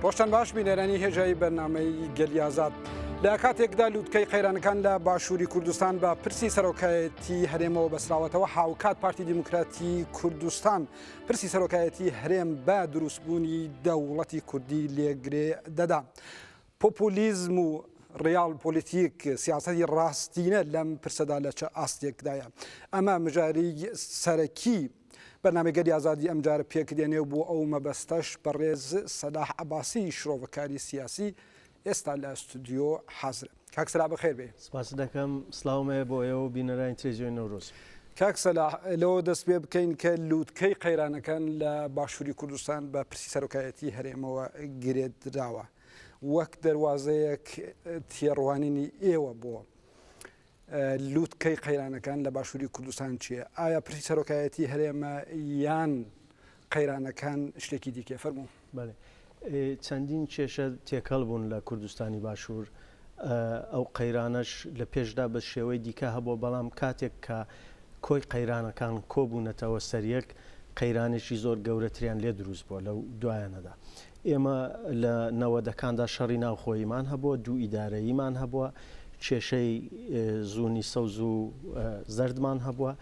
ڕۆشتن باش بینەرانی هێژایی بەرنمەی گەلیازات لە کاتێکدا لووتکەی قەیرانەکان لە باشووری کوردستان بە پرسی سەرۆکایەتی هەرێمەوە بەسراوەتەوە هاوکات پارتی دیموکراتی کوردستان پرسی سەرۆکایەتی هەرێم بە دروستبوونی دەوڵەتی کوردی لێگرێ دەدا. پۆپۆلیزم و ڕیاڵ پۆلیتیک سیاسەتی ڕاستینە لەم پرسەدا لە چە ئاستێکدایە ئەمە مژاری سەرەکی بەنامەگەری ئازادی ئەمجارە پێکدێنێ بۆ ئەو مەبەستەش بەڕێز سەلاح عباسی شرۆڤەکاری سیاسی ئێستا لە ستودیۆ حازرە. کاک سەلاح بەخێر بێی. سپاست دەکەم، سڵاوم هەیە بۆ ئێوە و بینەرانی تلێزیۆنی نەورۆز. کاک سەلاح لەوە دەست پێ بکەین کە لووتکەی قەیرانەکان لە باشووری کوردستان بە پرسی سەرۆکایەتیی هەرێمەوە گرێدراوە، وەک دەروازەیەک تێڕوانینی ئێوە بۆ لووتکەی قەیرانەکان لە باشووری کوردستان چییە؟ ئایا پرسی سەرۆکایەتیی هەرێمە یان قەیرانەکان شتێکی دیکەیە؟ فەرموو. بەڵێ چەندین کێشە تێکەڵ بوون لە کوردستانی باشوور، ئەو قەیرانەش لە پێشدا بە شێوەی دیکە هەبووە، بەڵام کاتێک کە کۆی قەیرانەکان کۆبوونەتەوە سەر یەک، قەیرانێکی زۆر گەورەتریان لێ دروست بووە لەو دوایانەدا. ئێمە لە نەوەدەکاندا شەڕی ناوخۆییمان هەبووە، دوو ئیدارەییمان هەبووە، کێشەی زونی سەوز و زەردمان هەبووە،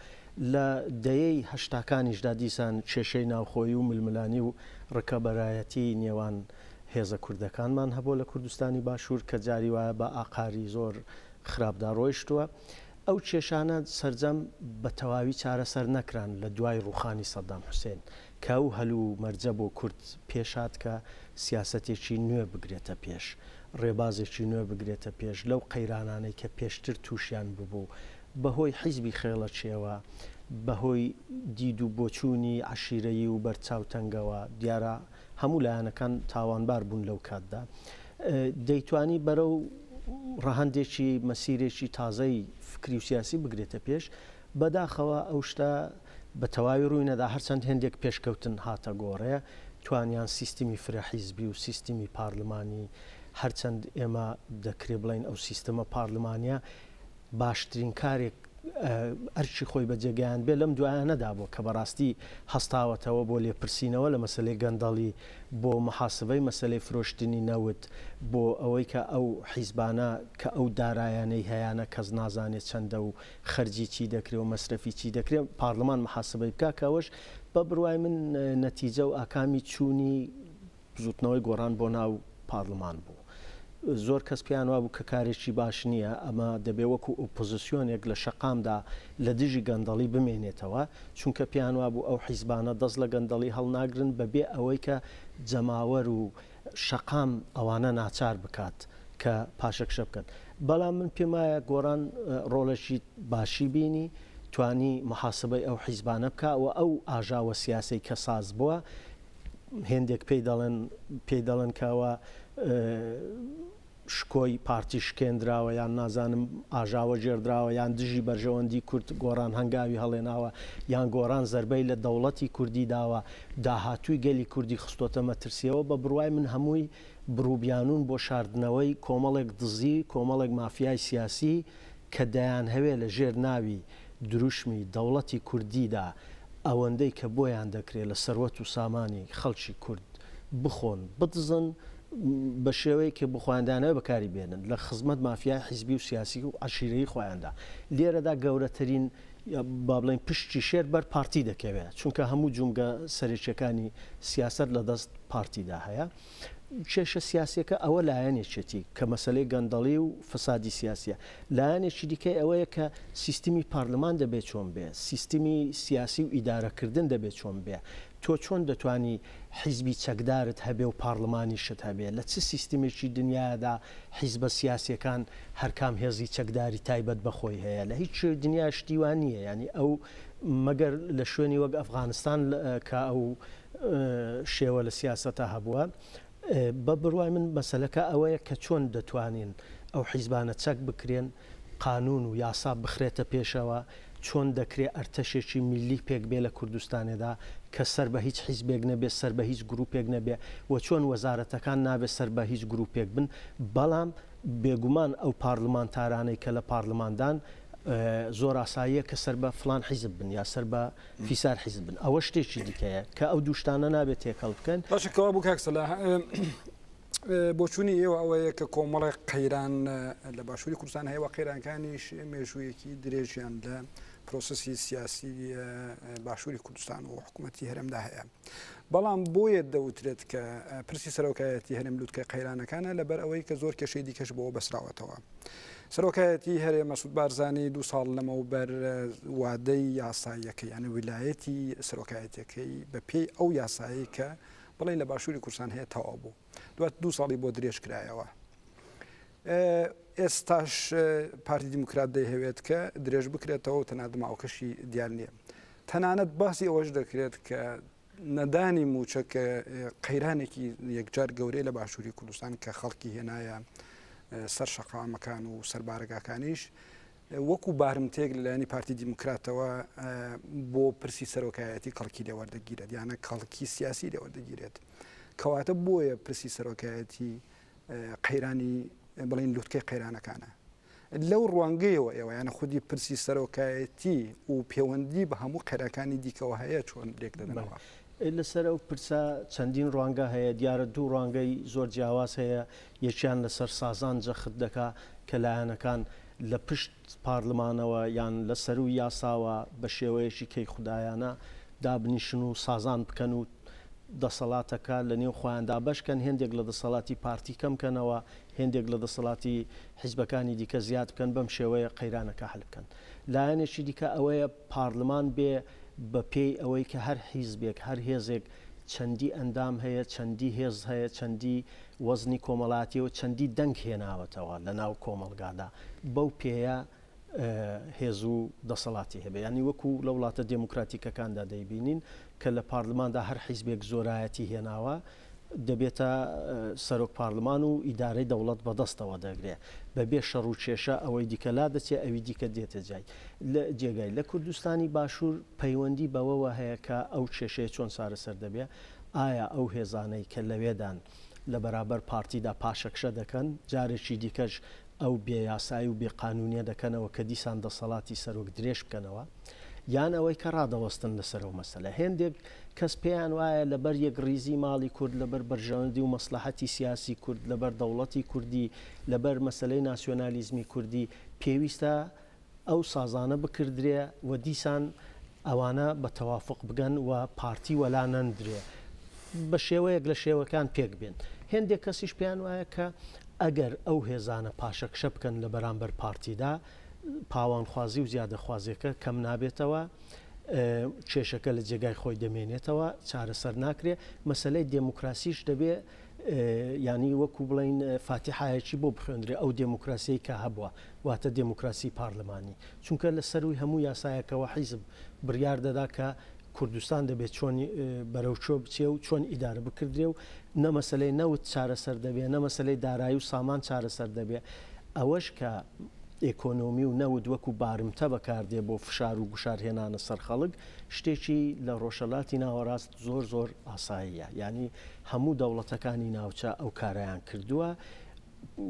لە دەیەی هەشتاکانیشدا دیسان کێشەی ناوخۆیی و ململانی و ڕکەبەرایەتی نێوان هێزە کوردەکانمان هەبووە لە کوردستانی باشوور کە جاری وایە بە ئاقاری زۆر خراپدا ڕۆیشتووە. ئەو کێشانە سەرجەم بە تەواوی چارەسەر نەکران لە دوای ڕووخانی سەدام حوسێن کە ئەو هەل و مەرجە بۆ کورد پێشهات کە سیاسەتێکی نوێ بگرێتە پێش، ڕێبازێکی نوێ بگرێتە پێش لەو قەیرانانەی کە پێشتر تووشیان ببوو بە هۆی حیزبی خێڵەکییەوە، بە هۆی دید و بۆچوونی عەشیرەیی و بەرچاوتەنگەوە، دیارە هەموو لایەنەکان تاوانبار بوون لەو کاتدا. دەیتوانی بەرەو ڕەهەندێکی مەسیرێکی تازەی فکری و سیاسی بگرێتە پێش، بەداخەوە ئەو شتە، بە تەواوی ڕووی نەدا، هەرچەند هێندێک پێشکەوتن هاتە گۆڕێ، توانیان سیستمی فرە حیزبی و سیستمی پارلمانی، هەرچەند ئێمە دەکرێ بڵێین ئەو سیستمە پارلمانیە باشترین کارێک ئەرکی خۆی بە جێگەیاندبێ لەم دوایانەدا بووە کە بەڕاستی هەستاوەتەوە بۆ لێپرسینەوە لە مەسەلەی گەندەڵی، بۆ محاسبەی مەسەلەی فرۆشتنی نەوت، بۆ ئەوەی کە ئەو حیزبانە کە ئەو دارایانەی هەیانە کەس نازانێ چەندە و خەرجی چی دەکرێ و مەسرەفی چی دەکرێ پارلمان محاسبەی بکا کە ئەوەش بە بڕوای من نەتیجە و ئاکامی چوونی بزوتنەوەی گۆڕان بۆ ناو پارلمان بوو زۆر کەس پێیان وابوو کە کارێکی باش نییە ئەمە دەبێ وەکو ئۆپۆزیسیۆنێک لە شەقامدا لە دژی گەندەڵی بمێنێتەوە چونکە پێیان وابوو ئەو حیزبانە دەست لە گەندەڵی هەڵناگرن بەبێ ئەوەی کە جەماوەر و شەقام ئەوانە ناچار بکات کە پاشەکشە بکەن بەڵام من پێم وایە گۆڕان ڕۆڵێکی باشی بینی توانی محاسبەی ئەو حیزبانە بکە و ئەو ئاژاوە سیاسەی کە ساز بووە هێندێک پێی دەڵێن پێی دەڵێن کەەوە شکۆی پارتی شکێندراوە یان نازانم ئاژاوە گێڕدراوە یان دژی بەرژەوەندی کورد گۆڕان هەنگاوی هەڵێناوە یان گۆڕان زەربەی لە دەوڵەتی کوردی داوە داهاتووی گەلی کوردی خستۆتە مەترسیەوە بە بڕوای من هەمووی بڕوبیانوون بۆ شاردنەوەی کۆمەڵێک دزی کۆمەڵێک مافیای سیاسی کە دەیانهەوێ لە ژێر ناوی دروشمی دەوڵەتی کوردیدا ئەوەندەی کە بۆیان دەکرێ لە سەروەت و سامانی خەڵکی کورد بخۆن بدزن بە شێوەیەک کە بۆ خۆیان داناوی بەکاری بێنن لە خزمەت مافیای حیزبی و سیاسی و عەشیرەیی خۆیاندا لێرەدا گەورەترین با بڵێین پشتی شێر بەر پارتی دەکەوێ چونکە هەموو جومگە سەرەکیەکانی سیاست لە دەست پارتیدا هەیە. کێشە سیاسیەکە ئەوە لایەنێکێتی کە مەسەلەی گەندەڵی و فسادی سیاسیە لایەنێکی دیکەی ئەوەیە کە سیستمی پارلمان دەبێت چۆن بێ سیستمی سیاسی و ئیدارەکردن دەبێت چۆن بێ تۆ چۆن دەتانی حیزبی چەکدارت هەبێ و پارلمانی شت هەبێ لە چ سیستمێکی دنیادا حیزبە سیاسەکان هەرکام هێزی چەکداری تایبەت بەخۆی هەیە لە هیچ دنیا شتیوان نییە ینی ئەو مەگەر لە شوێنی وەک ئەفغانستان کە ئەو شێوە لە سیاسەتا هەبووە. بە بڕوای من مەسەلەکە ئەوەیە کە چۆن دەتوانین ئەو حیزبانە چەک بکرێن، قانوون و یاسا بخرێتە پێشەوە، چۆن دەکرێ ئەرتەشێکی میللی پێک بێ لە کوردستانێدا کە سەر بە هیچ حیزبێک نەبێ، سەر بە هیچ گرووپێک نەبێ و چۆن وەزارەتەکان نابێ سەر بە هیچ گرووپێک بن. بەڵام بێگومان ئەو پارڵمانتارانەی کە لە پارڵماندان زۆر ئاساییە کە سەر بە فڵان حیزب بن یا سەر بە. فیسار حیزب بن ئەوە شتێکی دیکەیە کە ئەو دوو شتانە نابێت تێکەڵ بکەن. باشە کەوا بوو کاک سەلاح بۆچوونی ئێوە ئەوەیە کە کۆمەڵێک قەیران لە باشووری کوردستان هەیە و قەیرانکانیش مێژوویەکی درێژیان لە پرۆسسی سیاسی باشووری کوردستان و حکوومەتی هەرێمدا هەیە. بەڵام بۆیە دەوترێت کە پرسی سەرۆکایەتی هەرێم لوتکە قەیرانەکانە لەبەر ئەوەی کە زۆر کێشەی دیکەش بۆ بەسراوەتەوە. سەرۆکایەتی هەرێ مەسود بارزانانی دو ساڵ لەمەوبەر وادەی یاساییەکەی یانە ویلایەتی سەرۆکایەتەکەی بە پێی ئەو یاسایی کە بڵێ لە باشووری کورسان هەیە تەوا بوو دوات دو ساڵی بۆ درێژ کرایەوە. ئێستاش پارتی دیموکرات دەیهەوێت کە درێژ بکرێتەوە و تەنانەت ماوەکەشی دیار نییە. تەنانەت باسی ئەوەش دەکرێت کە نەدانی مووچە کە قەیرانێکی یەکجار گەورەی لە باشووری کوردستان کە خەڵکی هێنایە سەر شەقامەکان و سەر بارەگاکانیش وەکو بارمتێک لەلایەنی پارتی دیموکراتەوە بۆ پرسی سەرۆکایەتی کەڵکی لێوەردەگیرێت یانە کەڵکی سیاسی لێوەردەگیرێت کەواتە بۆیە پرسی سەرۆکایەتی قەیرانی بڵێن لوتکەی قەیرانەکانە. لەو ڕوانگەیەوە ئێوە یانە خودی پرسی سەرۆکایەتی و پێوەندی بە هەموو قەیرانەکانی دیکەوە هەیە چۆن لێک دەدەنەوە؟ لەسەر ئەو پرسە چەندین ڕوانگە هەیە، دیارە دوو ڕوانگەی زۆر جیاواز هەیە، یەکیان لەسەر سازان جەخت دەکا کە لایەنەکان لە پشت پارلمانەوە یان لە سەرووی یاساوە بە شێوەیەکی کەیخودایانە دابنیشن و سازان بکەن و دەسەڵاتەکە لە نێو خۆیان دابەش کەن، هێندێک لە دەسەڵاتی پارتی کەم کەنەوە، هێندێک لە دەسەڵاتی حیزبەکانی دیکە زیاد بکەن، بەم شێوەیە قەیرانەکە حەل بکەن. لایەنێکی دیکە ئەوەیە پارلمان بێ بە پێی ئەوەی کە هەر حیزبێک، هەر هێزێک چەندی ئەندام هەیە، چەندی هێز هەیە، چەندی وەزنی کۆمەڵایەتی و چەندی دەنگ هێناوەتەوە لە ناو کۆمەڵگادا بەو پێیە هێز و دەسەڵاتی هەبێت یانی وەکو لە وڵاتە دێموکراتیکەکاندا دەیبینین کە لە پارلماندا هەر حیزبێک زۆرایەتی هێناوە دەبێتە سەرۆک پارلمان و ئیدارەی دەوڵەت بەدەستەوە دەگرێ بەبێ شەڕ و کێشە ئەوەی دیکە لا دەچێ ئەوی دیکە دێتە جای لە جێگای لە کوردستانی باشوور پەیوەندی بەوەوە هەیە کە ئەو کێشەیە چۆن چارەسەر دەبێ ئایا ئەو هێزانەی کە لەوێدان لە بەرابەر پارتیدا پاشەکشە دەکەن، جارێکی دیکەش ئەو بێ یاسایی و بێ قانوونیە دەکەنەوە کە دیسان دەسەڵاتی سەرۆک درێژ بکەنەوە؟ یان ئەوەی کە ڕادەوەستن لەسەر ئەو مەسەلە؟ هێندێک کەس پێیان وایە لەبەر یەکڕیزی ماڵی کورد، لەبەر بەرژەوەندی و مەسڵەحەتی سیاسی کورد، لەبەر دەوڵەتی کوردی، لەبەر مەسەلەی ناسیۆنالیزمی کوردی پێویستە ئەو سازانە بکردرێ و دیسان ئەوانە بە تەوافوق بگەن و پارتی وەلا نەندرێ بە شێوەیەک لە شێوەکان پێک بێن. هێندێک کەسیش پێیان وایە کە ئەگەر ئەو هێزانە پاشەکشە بکەن لە بەرامبەر پارتیدا، پاوانخوازی و زیادەخوازیەکە کەم نابێتەوە، کێشەکە لە جێگای خۆی دەمێنێتەوە، چارەسەر ناکرێ. مەسەلەی دێموکراسیش دەبێ یانی وەکو بڵێین فاتیحایەکی بۆ بخوێندرێ ئەو دێموکراسیەی کە هەبووە واتە دێموکراسی پارلمانی چونکە لە سەروی هەموو یاسایەکەوە حیزب بڕیار دەدا کە کوردستان دەبێت چۆنی بەرەو چۆ بچێ و چۆن ئیدارە بکردرێ و نەمەسلەی نەوت چارەسەر دەبێ نەمەسلەی دارایی و سامان چارەسەر دەبێ ئەوەش کە ئێکۆنۆمی و نەوت وەکو بارمتە بەکاردێ بۆ فشار و گوشارهێنانە سەر خەڵک شتێکی لە ڕۆژەلاتی ناوەڕاست زۆر زۆر ئاساییە یانی هەموو دەوڵەتەکانی ناوچە ئەو کارەیان کردووە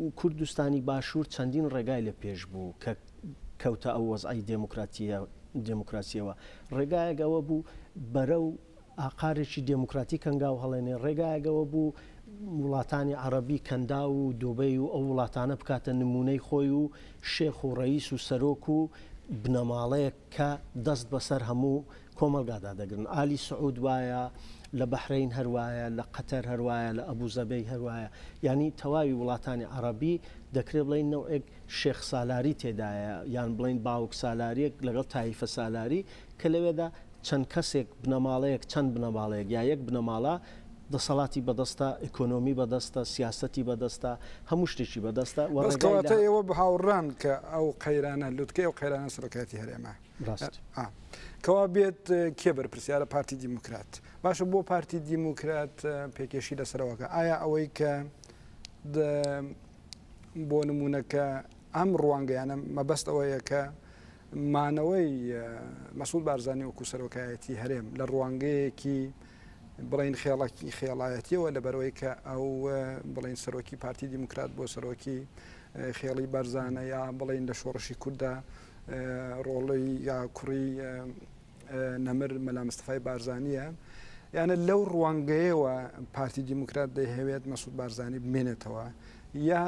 و کوردستانی باشوور چەندین ڕێگای لە پێش بوو کە کەوتە ئەو وەزعی دێموکراتیە دێموکراسیەوە ڕێگایەگەوە بوو بەرە و ئاقارێکی دێموکراتی کەنگاو هەڵێنێ ڕێگایەگەوە بوو وڵاتانی عربی کەندا و دوبەی و ئەو وڵاتانە بکاتە نمونەی خۆی و شێخ و ڕئیس و سەرۆک و بنەماڵەیەک کە دەست بەسەر هەموو کۆمەڵگادا دەگرن ئالی سعود وایە لە بەحرەین هەروایە لە قەتەر هەروایە لە ئەبوزەبی هەروایە یانی تەواوی وڵاتانی عەڕەبی دەکرێت بڵین نەوەک شێخ سالاری تێدایە یان بڵین باوک سالاریەک لەگەڵ تایفە سالاری کە لەوێدا چەند کەسێک بنەماڵەیەک چەند بنەماڵەیەک یا یەک بنەماڵە دەسەڵاتی بەدەستە، ئیکۆنۆمی بەدەستە، سیاسەتی بەدەستە، هەموو شتێکی بەدەستە و بەس ڕێگای لە کەواتە ئێوە هاوڕان کە ئەو قەیرانە، لوتکەی ئەو قەیرانە سەرۆکایەتی هەرێمە؟ ڕاست. کەوا بێت کێ بەرپرسیارە؟ پارتی دیموکرات. باشە بۆ پارتی دیموکرات پێکێشی لەسەرەوە کە ئایا ئەوەی کە بۆ نموونە کە ئەم ڕوانگەیانە مەبەست ئەوەیە کە مانەوەی مەسعود بارزانی وەکو سەرۆکایەتی هەرێم لە ڕوانگەیەکی بڵین خێڵکی خێڵایەتیەوە لەبەرەوەی کە ئەو بڵین سەرۆکی پارتی دیموکرات بۆ سەرۆکی خێڵی بەرزانە یا بڵین لە شۆڕشی کووردا ڕۆڵی یا کوڕی نەمر مەلا مستەفای بارزانییە یانە لەو ڕوانگەیەوە پارتی دیموکرات دەیهەوێت مەسود بارزانانی بمێنێتەوە یا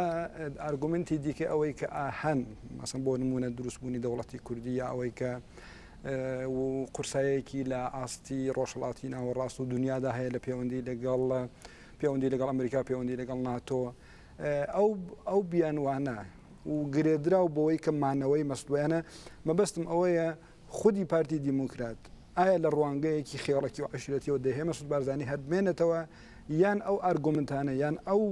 ئارگومنتی دیکە ئەوەی کە ئاهەن مەسم بۆ نمونە دروستبوونی دەوڵەتی کوردی یا ئەوەی کە و قورسایەکی لە ئاستی ڕۆژهڵاتی ناوەڕاست و دنیادا هەیە لە پەیوەندی لەگەڵ پەیوەندی لەگەڵ ئەمریکا پەیوەندی لەگەڵ ناتۆ ئەو ئەو بیانوانە و گرێدرا و بۆەوەی کە مانەوەی مەستویانە مەبەستم ئەوەیە خودی پارتی دیموکرات ئایا لە ڕوانگەیەکی خێڵەکی و عەشیرەتیەوە دەیهەوێ مەسعود بارزانی هەر بمێنێتەوە یان ئەو ئارگۆمنتانە یان ئەو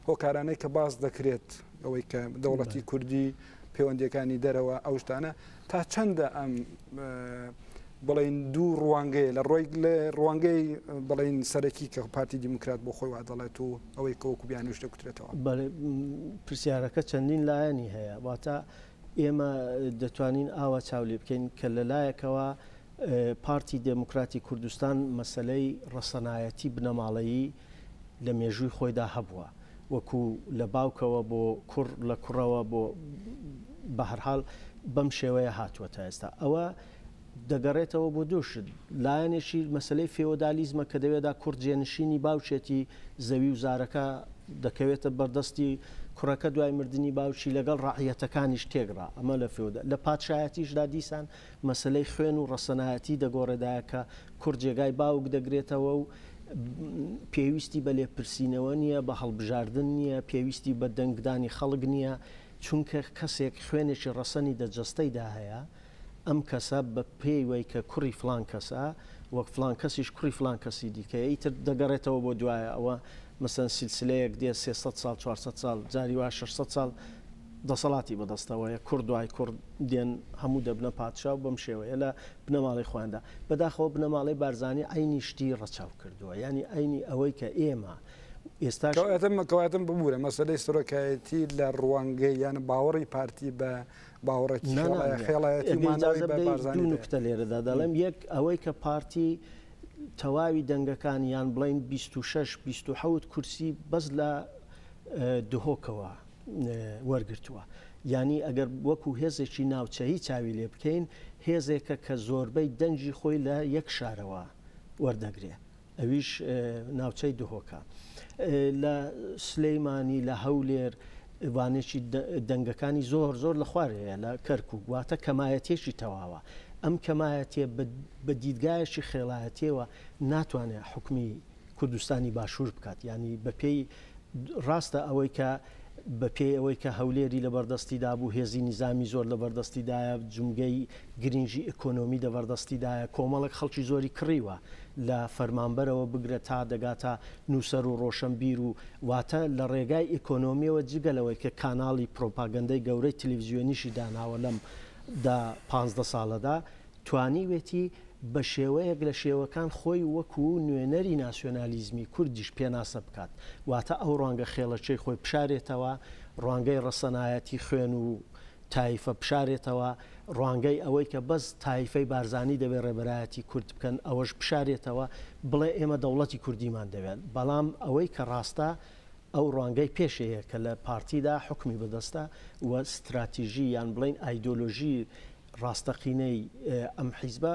هۆکارانەی کە باس دەکرێت ئەوەی کە دەوڵەتی کوردی پەیوەندەکانی دەرەوە ئەو شتانە تا چەندە ئەم بڵین دوو ڕوانگەیە لە ڕۆی لە ڕوانگەی بڵین سەرەکی کە پارتی دیموکرات بۆ خۆی وادەڵێت و ئەوەی کەوەکو بیانوش دەکوترێتەوە پرسیارەکە چەندین لایەنی هەیە واتە ئێمە دەتوانین ئاوا چاو لێ بکەین کە لە لایەکەوە پارتی دێموکراتی کوردستان مەسەلەی ڕەسەنایەتی بنەماڵەیی لە مێژووی خۆیدا هەبووە وەکوو لە باوکەوە بۆ کوڕ لە کوڕەوە بۆ بە هەر حاڵ بەم شێوەیە هاتووە تا ئێستا ئەوە دەگەڕێتەوە بۆ دوو شت، لایەنێکی مەسەلەی فێۆدالیزمە کە دەوێدا کوڕ جێنشینی باوکێتی زەوی و زارەکە دەکەوێتە بەردەستی کوڕەکە دوای مردنی باوکی لەگەڵ ڕەعیەتەکانیش تێکڕا ئەمە لە فێۆدا لە پادشایەتیشدا دیسان مەسەلەی خوێن و ڕەسەنایەتی دەگۆڕێدایە کە کوڕ جێگای باوک دەگرێتەوە و پێویستی بە لێپرسینەوە نییە بە هەڵبژاردن نییە پێویستی بە دەنگدانی خەڵک نییە چونکە کەسێک خوێنێکی ڕەسەنی دە جەستەیدا هەیە ئەم کەسە بە پێی وەی کە کوڕی فڵان کەسە و فڵان کەسیش کوڕی فڵان کەسی دیکەیە ئیتر دەگەڕێتەوە بۆ دوایە ئەوە مەسەن سیلسلەیەک دێ سێ سەد ساڵ چوار سەد ساڵ جاری وا شەش سەد ساڵ دەسەڵاتی بەدەستەوەیە کوڕ دوای کوڕ دێن هەموو دەبنە پادشا و بەم شێوەیە لە بنەماڵەی خۆیاندا بەداخەوە بنەماڵەی بارزانی عینی شتی ڕەچاو کردووە ینی عینی ئەوەی کە ئێمە ئێستاش کەواتە کەواتە ببورە مەسەلەی سەرۆکایەتی لە ڕوانگەی یان باوەڕی پارتی بە باوەڕێکی خێڵایەتیمانەوەیبارزانانیکتە لێرەدا دەڵێم یەک ئەوەی کە پارتی تەواوی دەنگەکان یان بڵین 26 26 کورسی بەس لە دهۆکەوە وەرگتووە ینی ئەگەر وەکو هێزێکی ناوچەیی چاوی لێ بکەین هێزێکە کە زۆربەی دەنگی خۆی لە یەک شارەوە وەردەگرێت ئەویش ناوچەی دهۆکە. لە سلیمانی لە هەولێر وانێکی دەنگەکانی زۆر زۆر لە خوار هەیە لە کەرکوک واتە کەمایەتێکی تەواوە ئەم کەمایەتێ بە دیدگایەکی خێڵایەتێەوە ناتوانێت حکومی کوردستانی باشوور بکات ینی بەپێی ڕاستە ئەوەی کە بەپێی ئەوەی کە هەولێری لە بەردەستی دابوو هێزی نیزامی زۆر لە بەردەستیدایە جمگەی گرنگی ئیکۆنۆمی دەبەردەستیدایە، کۆمەڵێک خەڵکی زۆری کڕیوە، لە فەرمانبەرەوە بگرە تا دەگاتە نووسەر و ڕۆشەنبیر و. واتە لە ڕێگای ئیکۆنۆمییەوە جگە لەوەی کە کاناڵی پرۆپاگەندەی گەورەی تلویزیۆنیشی داناوە لەم دە پانزدە ساڵەدا، توانیوێتی بە شێوەیەک لە شێوەکان خۆی وەکوو نوێنەری ناسیۆنالیزمی کوردیش پێناسە بکات، واتە ئەو ڕوانگە خێڵەکییەی خۆی بشارێتەوە، ڕوانگەی ڕەسەنایەتی خوێن و. تایفە بشارێتەوە، ڕوانگەی ئەوەی کە بەس تایفەی بارزانی دەبێت ڕێبەرایەتی کورد بکەن ئەوەش بشارێتەوە، بڵێ ئێمە دەوڵەتی کوردیمان دەوێت، بەڵام ئەوەی کە ڕاستە ئەو ڕوانگەی پێشەیە کە لە پارتیدا حوکمی بەدەستە و ستراتیژی یان بڵێین ئایدۆلۆژی ڕاستەقینەی ئەم حیزبە،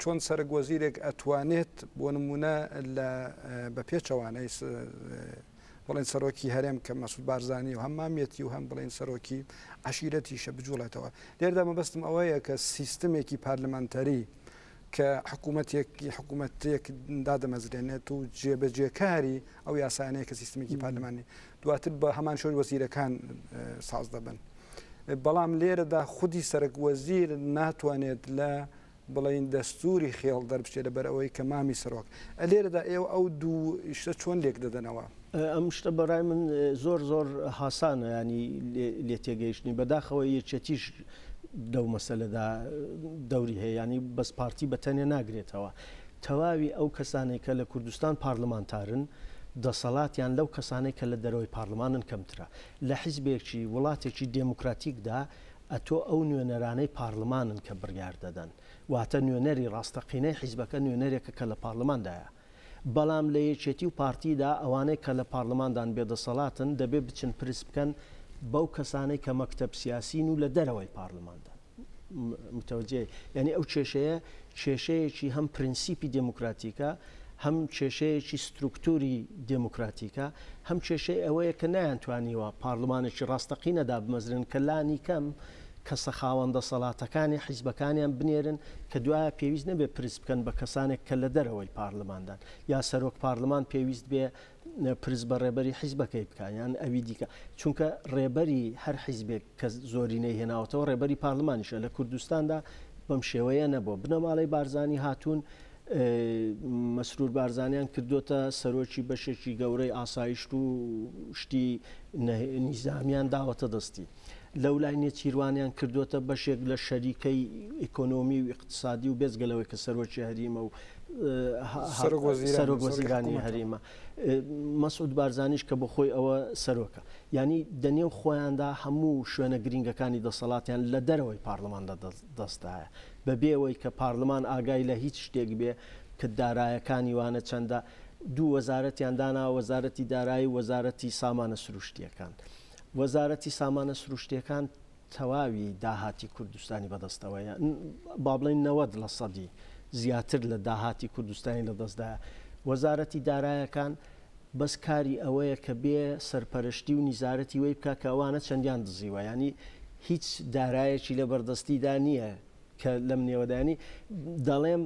چۆن سەرەک وەزیرێک ئەتوانێت بۆ نمونە لە بە پێچەوانەی بڵێن سەرۆکی هەرێم کە مەسود بارزانانی و هەم مامەتی و هەم بڵێن سەرۆکی عشیرەتیشە بجوڵێتەوە لێردا مەبەستم ئەوەیە کە سیستمێکی پارلمانتەری کە حکوومەتێکی حکوومەتێک دادەمەزرێنێت و جێبەجێکاری ئەو یاسانەیە کە سیستمێکی پارلمانی دواتر بە هەمان شێوە وەزیرەکان ساز دەبن. بەڵام لێرەدا خودی سەرەک وەزیر ناتوانێت لە بڵین دەستوری خێڵ دەربچێت لەبەر ئەوەی کە مامی سەرۆک لێرەدا ئێوە ئەو دوو شتە چۆن لێک دەدەنەوە ئەم شتە بەڕای من زۆر زۆر حسانە ینی لێ تێگەیشتنی بەداخەوە یەکێتیش دەو مەسەلەدا دەوری هەیە ینی بەس پارتی بە تەنێ ناگرێتەوە تەواوی ئەو کەسانەی کە لە کوردستان پارلمانتارن دەسەڵاتیان لەو کەسانەی کە لە دەرەوەی پارلمانن کەمترە. لە حیزبێکی وڵاتێکی دێموکراتیکدا ئەتۆ ئەو نوێنەرانەی پارلمانن کە بڕیار دەدەن. واتە نوێنەری ڕاستەقینەی حیزبەکە نوێنەرێکە کە لە پارلماندایە. بەڵام لە یەکێتی و پارتیدا ئەوانەی کە لە پارلماندان بێ دەسەڵاتن دەبێ بچن پرس بکەن بەو کەسانەی کە مەکتەب سیاسین و لە دەرەوەی پارلماندان. متەوەجێ یعنی ئەو کێشەیە کێشەیەکی هەم پرینسیپی دموکراتیکە هەم کێشەیەکی سترکتوری دموکراتیکە هەم کێشەی ئەوەیە کە نایانتوانیوە پارلمانێکی ڕاستەقینەدا بمەزرن کە لانی کەم کەسە خاوەن دەسەڵاتەکانی حیزبەکانیان بنێرن کە دوایە پێویست نەبێ پرس بکەن بە کەسانێک کە لە دەرەوەی پارلماندان یا سەرۆک پارلمان پێویست بێ پرس بە ڕێبەری حیزبەکەی بکا یان ئەوی دیکە چونکە ڕێبەری هەر حیزبێک کە زۆرینەی هێناوەتەوە ڕێبەری پارلمانیشە لە کوردستاندا بەم شێوەیە نەبووە بنەماڵەی بارزانانی هاتوون مەسرور بارزانیان کردوتە سەرۆکی بەشێکی گەورەی ئاسایشت و شتی نیزامیان داوەتە دەستی لەولای نێچیروانیان کردووەتە بەشێک لە شەریکەی ئیکۆنۆمی و ئیقتسادی و بێجگە لەوەی کە سەرۆکی هەریمە و سەرۆک وەزیرانی هەریمە مەسعود بارزانیش کە بۆ خۆی ئەوە سەرۆکە ینی دەنێو خۆیاندا هەموو شوێنە گرنگەکانی دەسەڵاتیان لە دەرەوەی پارلماندا دەستدایە بەبێەوەی کە پارلمان ئاگای لە هیچ شتێک بێ کە دارایەکانی وانە چەندە دوو وەزارەتیان دانا وەزارەتی دارایی وەزارەتی سامانە سروشتیەکان. وەزارەتی سامانە سروشتیەکان تەواوی داهاتی کوردستانی بەدەستەوەیە بابڵین نەوەد لە سەدی زیاتر لە داهاتی کوردستانی لە دەستدا وەزارەتی دارایەکان بەس کاری ئەوەیە کە بێ سەرپەرشتی و نیزارەتی وەی بکە کە ئەوانە چەندیان دزیوە ینی هیچ دارایەکی لە بەردەستیدا نییە کە لەم نێوەدانی دەڵێم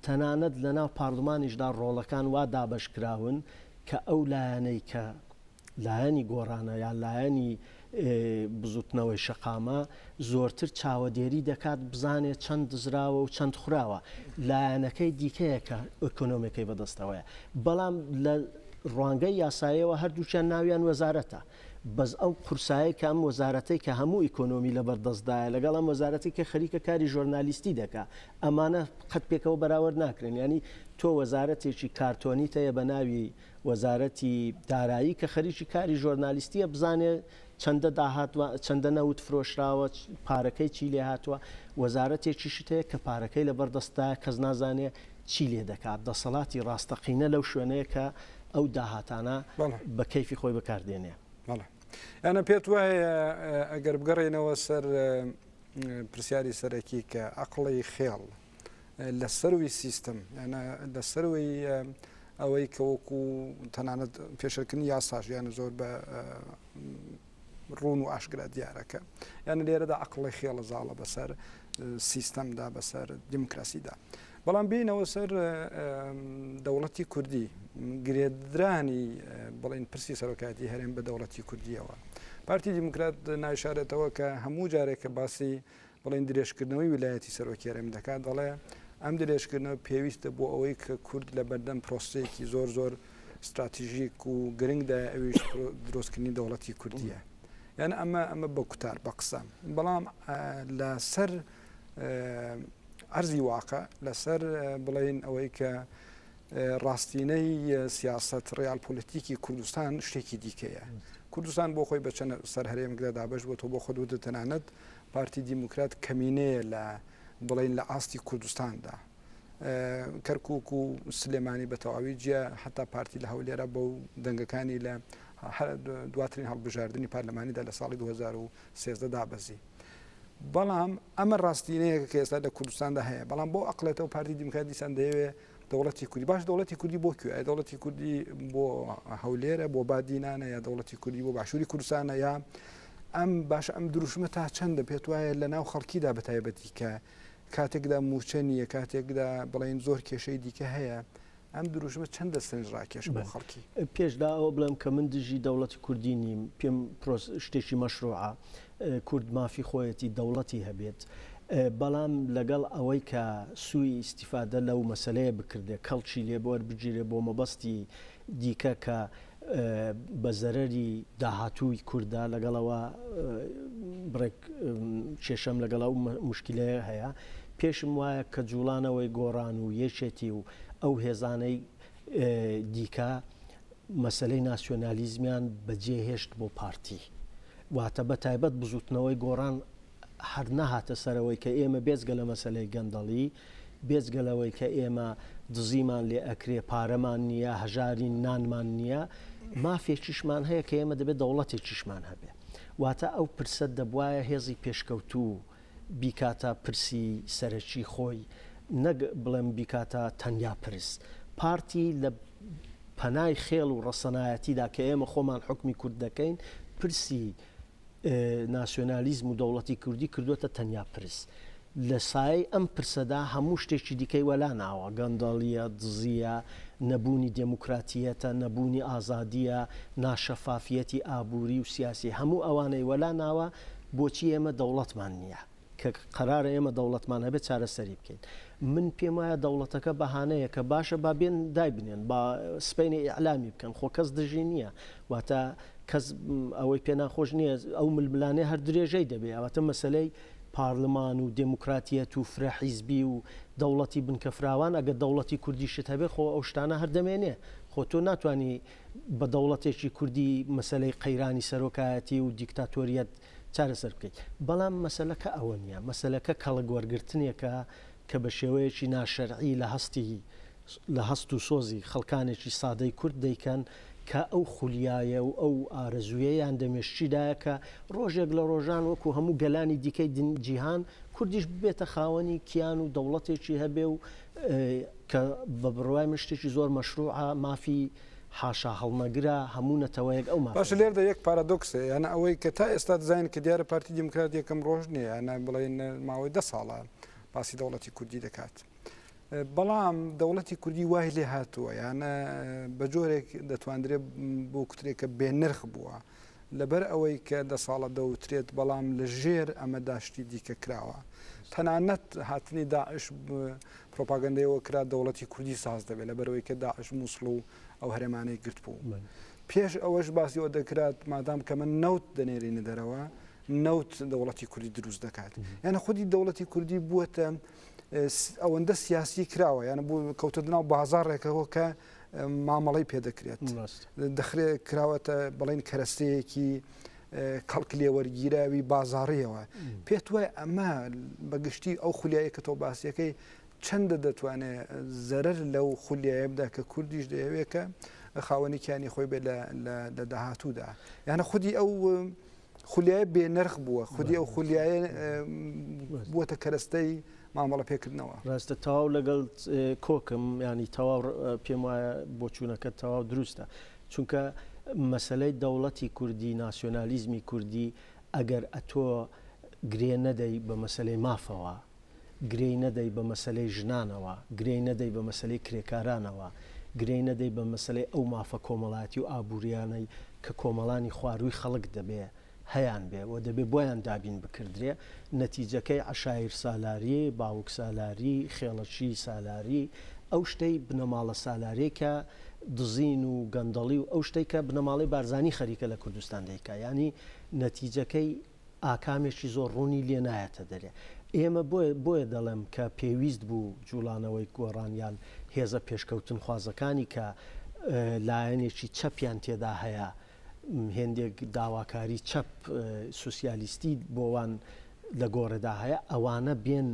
تەنانەت لەناو پارلمانیشدا ڕۆڵەکان وا دابەش کراون کە ئەو لایەنەی کە لایەنی گۆڕانە یان لایەنی بزوتنەوەی شەقامە زۆرتر چاوەدێری دەکات بزانێت چەند دزراوە و چەند خوراوە لایەنەکەی دیکەیە کە ئۆکۆنۆمەکەی بەدەستەوەیە بەڵام لە ڕوانگەی یاسایەوە هەردووچیان ناویان وەزارەتە بەس ئەو قورسایی کە ئەم وەزارەتەی کە هەموو ئیکۆنۆمی لە بەردەستدایە لەگەڵ ئەم وەزارەتی کە خەریکە کاری ژۆرنالیستی دەکا ئەمانە قەت پێکەوە بەراورد ناکرێن ینی تۆ وەزارەتێکی کارتۆنی تەیە بە ناوی وەزارەتی دارایی کە خەریکی کاری ژۆرنالیستیە بزانێ چەندە داهات و چەندە نەوت فرۆشراوە پارەکەی چی لێ هاتووە وەزارەتێکیشت هەیە کە پارەکەی لەبەر دەستدا کەس نازانێ چی لێ دەکات دەسەڵاتی ڕاستەقینە لەو شوێنەیە کە ئەو داهاتانە بە کەیفی خۆی بەکاردێنێ ئەە پێت وایە ئەگەر بگەڕێنەوە سەر پرسیاری سەرەکی کە عقلی خێڵ لە سەروی سیستم یانە لە سەروەی ئەوەی کە وەکو تەنانەت پێشەکردنی یاساش یانە زۆر بە ڕون و ئاشکرا دیارەکە یانە لێرەدا عقلی خێڵە زاڵە بەسەر سیستەمدا بەسەر دیموکراسیدا بەڵام بینەوە سەر دەوڵەتی کوردی گرێدرانی بڵین پرسی سەرۆکاتی هەرێم بە دەوڵەتی کوردیەوە پارتی دیموکرات نایشارێتەوە کە هەموو جارێکە باسی بڵێن درێژکردنەوەی ویلایەتی سەرۆکی هەرێم دەکات، دەڵێ، ئەم درێژکردنەوە پێویستە بۆ ئەوەی کە کورد لە بەردەم پرۆسەیەکی زۆر زۆر ستراتژیک و گرنگدایە ئەویش درۆستکردنی دەوڵەتی کوردیە. یان ئەمە ئەمە بە کوتار بە قسە بەڵام لە سەر ئەرزی واقع لەسەر بڵێن ئەوەی کە ڕاستینەی سیاست ڕیال پۆلیتیکی کوردستان شتێکی دیکەیە کوردستان بۆ خۆی بە چەند سەر هەرێمەکدا دابش بۆ تۆ بۆ خۆ دوو تەنانەت پارتی دیموکرات کەمینەیە لە بڵێین لە ئاستی کوردستاندا کەرکک و سلێمانی بە تەواوی جیە حتا پارتی لە هەولێرە بەو دەنگەکانی لە دواترین هەڵبژاردننی پارلەمانیدا لە ساڵی 2013 دابەزی. بەڵام ئەمە ڕاستینەیە کە ئێستا لە کوردستاندا هەیە بەڵام بۆ ئەقلێتەوە پارتی دیموکرات دیسان دەیەوێ دەوڵەتی کوردی باش دەوڵەتی کوردی بۆ کوێ ئەی دەوڵەتی کوردی بۆ هەولێرە بۆ بادینانە یا دەوڵەتی کوردی بۆ باشووری کوردستانە یا ئەم باش ئەم دروشمە تا چەندە پێت وایە لە ناو خەڵکیدا بە تایبەتی کە کاتێکدا موچە نییە کاتێکدا بڵین زۆر کێشەی دیکە هەیە ئەم دروشمە چەندە سنج ڕاکێش بە خەڵکی پێشدا ئەوە بڵێم کە من دژی دەوڵەتی کوردی نیم پێم شتێکی مەشروعە کورد مافی خۆیەتی دەوڵەتی هەبێت بەڵام لەگەڵ ئەوەی کە سووی ئیستیفادە لەو مەسەلەیە بکردێ کەڵکی لێ وەربگیرێ بۆ مەبەستی دیکە کە بە زەرەری داهاتووی کوردە لەگەڵ ئەوە بڕێک کێشەم لەگەڵ ئەو مشکلەیە هەیە پێشم وایە کە جوڵانەوەی گۆڕان و یەکێتی و ئەو هێزانەی دیکە مەسەلەی ناسیۆنالیزمیان بەجێ هێشت بۆ پارتی. واتە بە تایبەت بزووتنەوەی گۆڕان هەر نەهاتە سەرەوەی کە ئێمە بێجگە لە مەسەلەی گەندەڵی، بێجگە لەوەی کە ئێمە دزیمان لێ ئەکرێ، پارەمان نییە، هەژارین، نانمان نییە، مافێکیشمان هەیە کە ئێمە دەبێ دەوڵەتێکیشمان هەبێ. واتە ئەو پرسە دەبوایە هێزی پێشکەوتوو، بیکاتە پرسی سەرەکی خۆی، نەک بڵێم بیکاتە تەنیا پرس. پارتی لە پەنای خێڵ و ڕەسەنایەتیدا کە ئێمە خۆمان حوکمی کورد دەکەین، پرسی ناسیۆنالیزم و دەوڵەتی کوردی کردووەتە تەنیا پرس. لە سایەی ئەم پرسەدا هەموو شتێکی دیکەی وەلا ناوە، گەندەڵییە، دزییە، نەبوونی دێموکراتییەتە، نەبوونی ئازادییە، ناشەفافییەتی ئابووری و سیاسی، هەموو ئەوانەی وەلا ناوە بۆچی ئێمە دەوڵەتمان نییە؟ کە قەرارە ئێمە دەوڵەتمان هەبێت چارەسەری بکەین. من پێم وایە دەوڵەتەکە بەهانەیەکە، باشە با بێن دایبنێن، با سبەینێ ئیعلامی بکەن، خۆ کەس دژی نییە، واتە کەس ئەوەی پێ ناخۆش نییە، ئەو ململانێ هەر درێژەی دەبێ، ئەواتە مەسەلەی پارلمان و دێموکراتیەت و فرە حیزبی و دەوڵەتی بنکە فراوان، ئەگەر دەوڵەتی کوردیشت هەبێ خۆ ئەو شتانە هەر دەمێنێ، خۆ تۆ ناتوانی بە دەوڵەتێکی کوردی مەسەلەی قەیرانی سەرۆکایەتی و دیکتاتۆریەت چارەسەر بکەیت. بەڵام مەسەلەکە ئەوە نییە، مەسەلەکە کەڵک وەرگرتنێکە کە بە شێوەیەکی ناشەرعی لە هەستی لە هەست و سۆزی خەڵکانێکی سادەی کورد دەیکەن کە ئەو خولیایە و ئەو ئارەزوویەیان دە مێشکیدایە کە ڕۆژێک لە ڕۆژان وەکوو هەموو گەلانی دیکەی جیهان کوردیش ببێتە خاوەنی کیان و دەوڵەتێکی هەبێ و کە بە بڕوای من شتێکی زۆر مەشروعە، مافی حاشاهەڵنەگرە، هەموو نەتەوەیەک ئەو مافەی باشە هەیە. لێردا یەک پارادۆکس هەیە، یانە ئەوەی کە تا ئێستا دەزانین کە دیارە پارتی دیموکرات یەکەم ڕۆژ نییە، یانە بڵێین ماوەی دە ساڵە باسی دەوڵەتی کوردی دەکات، بەڵام دەوڵەتی کوردی وای لێ هاتووە، یانە بە جۆرێک دەتواندرێ بوکترێ کە بێ نرخ بووە، لەبەر ئەوەی کە دە ساڵە دەوترێت، بەڵام لە ژێر ئەمەدا شتی دیکە کراوە. تەنانەت هاتنی داعش پروپاگەندەی ئەوە کرا دەوڵەتی کوردی ساز دەبێت لە بەرەوەی کە داعش مووسڵ و ئەو هەرێمانەی گرت بوو پێش ئەوەش باسی ئەوە دەکرات مادام کە من نەوت دەنێرینە دەرەوە نەوت دەوڵەتی کوردی دروست دەکات یانە خودی دەوڵەتی کوردی بووە ئەوەندە سیاسی کراوە یانە بوو کەوتە دناو بازارڕێکەوە کە مامەڵەی پێ دەکرێت دەخرێ کراوەتە بڵین کەرەستەیەکی کەڵک لێوەرگیراوی بازاڕیەوە پێت وای ئەمە بەگشتی ئەو خولیایی کە تۆ باسیەکەی چەندە دەتوانێت زەرەر لەو خولیایبدا کە کوردیش دەیەوێکە خاوەنیکیانی خۆی بێت لە داهاتوودا یانە خودی ئەو خولیای بێ نرخ بووە خودی ئەو خولیایە بووەتە کەرەستەی مامەڵە پێکردنەوە ڕاستە تەواو لەگەڵ کۆکم ینی تەواو پێم وایە بۆچوونەکە تەواو دروستە چونکە مەسلەی دەوڵەتی کوردی ناسیۆنالیزمی کوردی ئەگەر ئەتۆ گرێ نەدەی بە مەسلەی مافەوە گرێی نەدەی بە مەسەلەی ژنانەوە، گرێی نەدەی بە مەسەلەی کرێکارانەوە، گرێی نەدەی بە مەسەلەی ئەو مافە کۆمەڵایەتی و ئابوورییانەی کە کۆمەڵانی خوارووی خەڵک دەبێ هەیانبێ و دەبێ بۆیان دابین بکردرێ، نەتیجەکەی عەشایرسالاری، باوکسالاری، خێڵەکی سالاری، ئەو شتەی بنەماڵە سالاریی کە دزین و گەندەڵی و ئەو شتەی کە بنەماڵەی بارزانی خەریکە لە کوردستان دەیکا یانی نەتیجەکەی، ئاکامێکی زۆر ڕوونی لێ نایەتە دەرێ. ئێمە بۆیە بۆیە دەڵێم کە پێویست بوو جووڵانەوەی گۆڕان یان هێزە پێشکەوتنخوازەکانی کە لایەنێکی چەپیان تێدا هەیە، هێندێک داواکاری چەپ سوسیالیستی بۆوان لە گۆڕێدا هەیە، ئەوانە بێن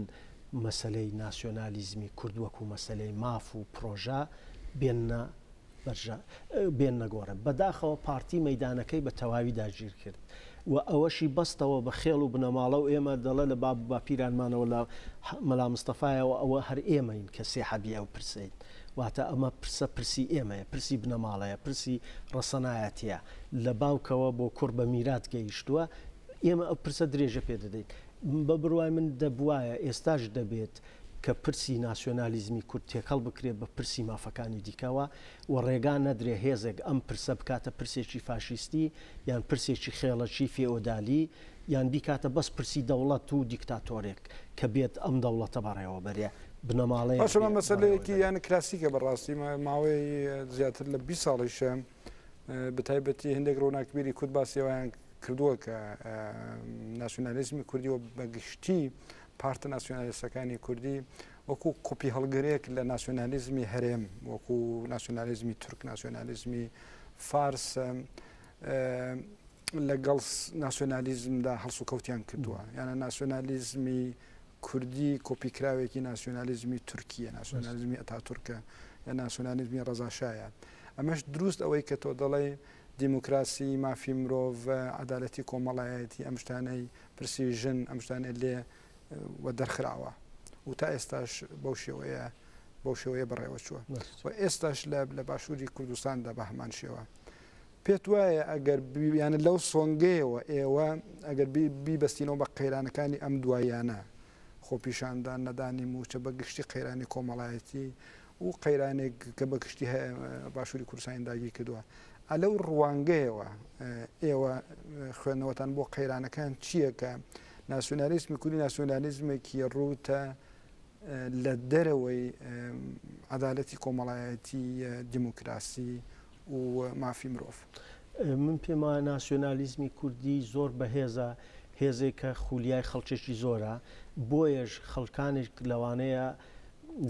مەسەلەی ناسیۆنالیزمی کورد وەکوو مەسەلەی ماف و پڕۆژە بێننە بەرژە بێن نەگۆڕێ. بەداخەوە پارتی مەیدانەکەی بە تەواوی داگیر کرد و ئەوەشی بەستەوە بە خێڵ و بنەماڵە و ئێمە دەڵێ لە باب و باپیرانمانەوە لە مەلا مستەفایەوە ئەوە هەر ئێمەین کە سێحەبی ئەو پرسەین. واتە ئەمە پرسە پرسی ئێمەیە، پرسی بنەماڵەیە، پرسی ڕەسەنایەتییە. لە باوکەوە بۆ کوڕ بە میرات گەیشتووە. ئێمە ئەو پرسە درێژە پێ دەدەین. بە بڕوای من دەبوایە، ئێستاش دەبێت کە پرسی ناسیۆنالیزمی کورد تێکەڵ بکرێت بە پرسی مافەکانی دیکەوە و ڕێگا نەدرێت هێزێک ئەم پرسە بکاتە پرسێکی فاشیستی یان پرسێکی خێڵەکی فێئۆدالی یان بیکاتە بەس پرسی دەوڵەت و دیکتاتۆرێک کە بێت ئەم دەوڵەتە بەڕێوە بەرێ بنەماڵەیەک باشە مەسەلەیەکی یان کلاسیکە بەڕاستی ماوەی زیاتر لە بیست ساڵیشە بەتایبەتی هەندێک ڕۆناکبیری کورد باسیەوەیان کردووە کە ناسیۆنالیزمی کوردی و بەگشتی پارتە ناسیۆنالیستەکانی کوردی وەکو قوپی هەڵگرێک لە ناسیۆنالیزمی هەرێم وەکو ناسیۆنالیزمی تورک ناسیۆنالیزمی فارس لەگەڵ ناسیۆنالیزمدا هەڵسو کەوتیان کردووە یانە ناسیۆنالیزمی کوردی کۆپیکراوێکی ناسیۆنالیزمی تورکیە ناسیۆنالیزمی ئەتا تورکە یا ناسیۆنالیزمی ڕزاشایە ئەمەش دروست ئەوەی کە تۆ دەڵێی دیموکراسی، مافی مرۆڤ، عەدالەتی کۆمەڵایەتی ئەم شتانەی پرسی ژن ئەم شتانەی لێ وە دەرخراوە و تا ئێستاش بەو شێوەیە بەو شێوەیە بەڕێوە چووە و ئێستاش لە لە باشووری کوردستاندا بە هەمان شێوە پێت وایە ئەگەر بیانە لەو سۆنگەیەوە ئێوە ئەگەر بیبستینەوە بە قەیرانەکانی ئەم دوایانە خۆپیشاندان نەدانی موچە بە گشتی قەیرانی کۆمەڵایەتی و قەیرانێک کە بە گشتی باشووری کوردستانی داگیر کردووە ئا لەو ڕوانگەیەوە ئێوە خوێندنەوەتان بۆ قەیرانەکان چییە کە ناسیۆنالیزمی کوردی ناسیۆنالیزمێکی ڕووتە لە دەرەوەی عدالەتی کۆمەڵایەتی دیموکراسی و مافی مرۆڤ من پێم وایە ناسیۆنالیزمی کوردی زۆر بەهێزە هێزێکە خولیای خەڵکێکی زۆرە بۆیەش خەڵکانێک لەوانەیە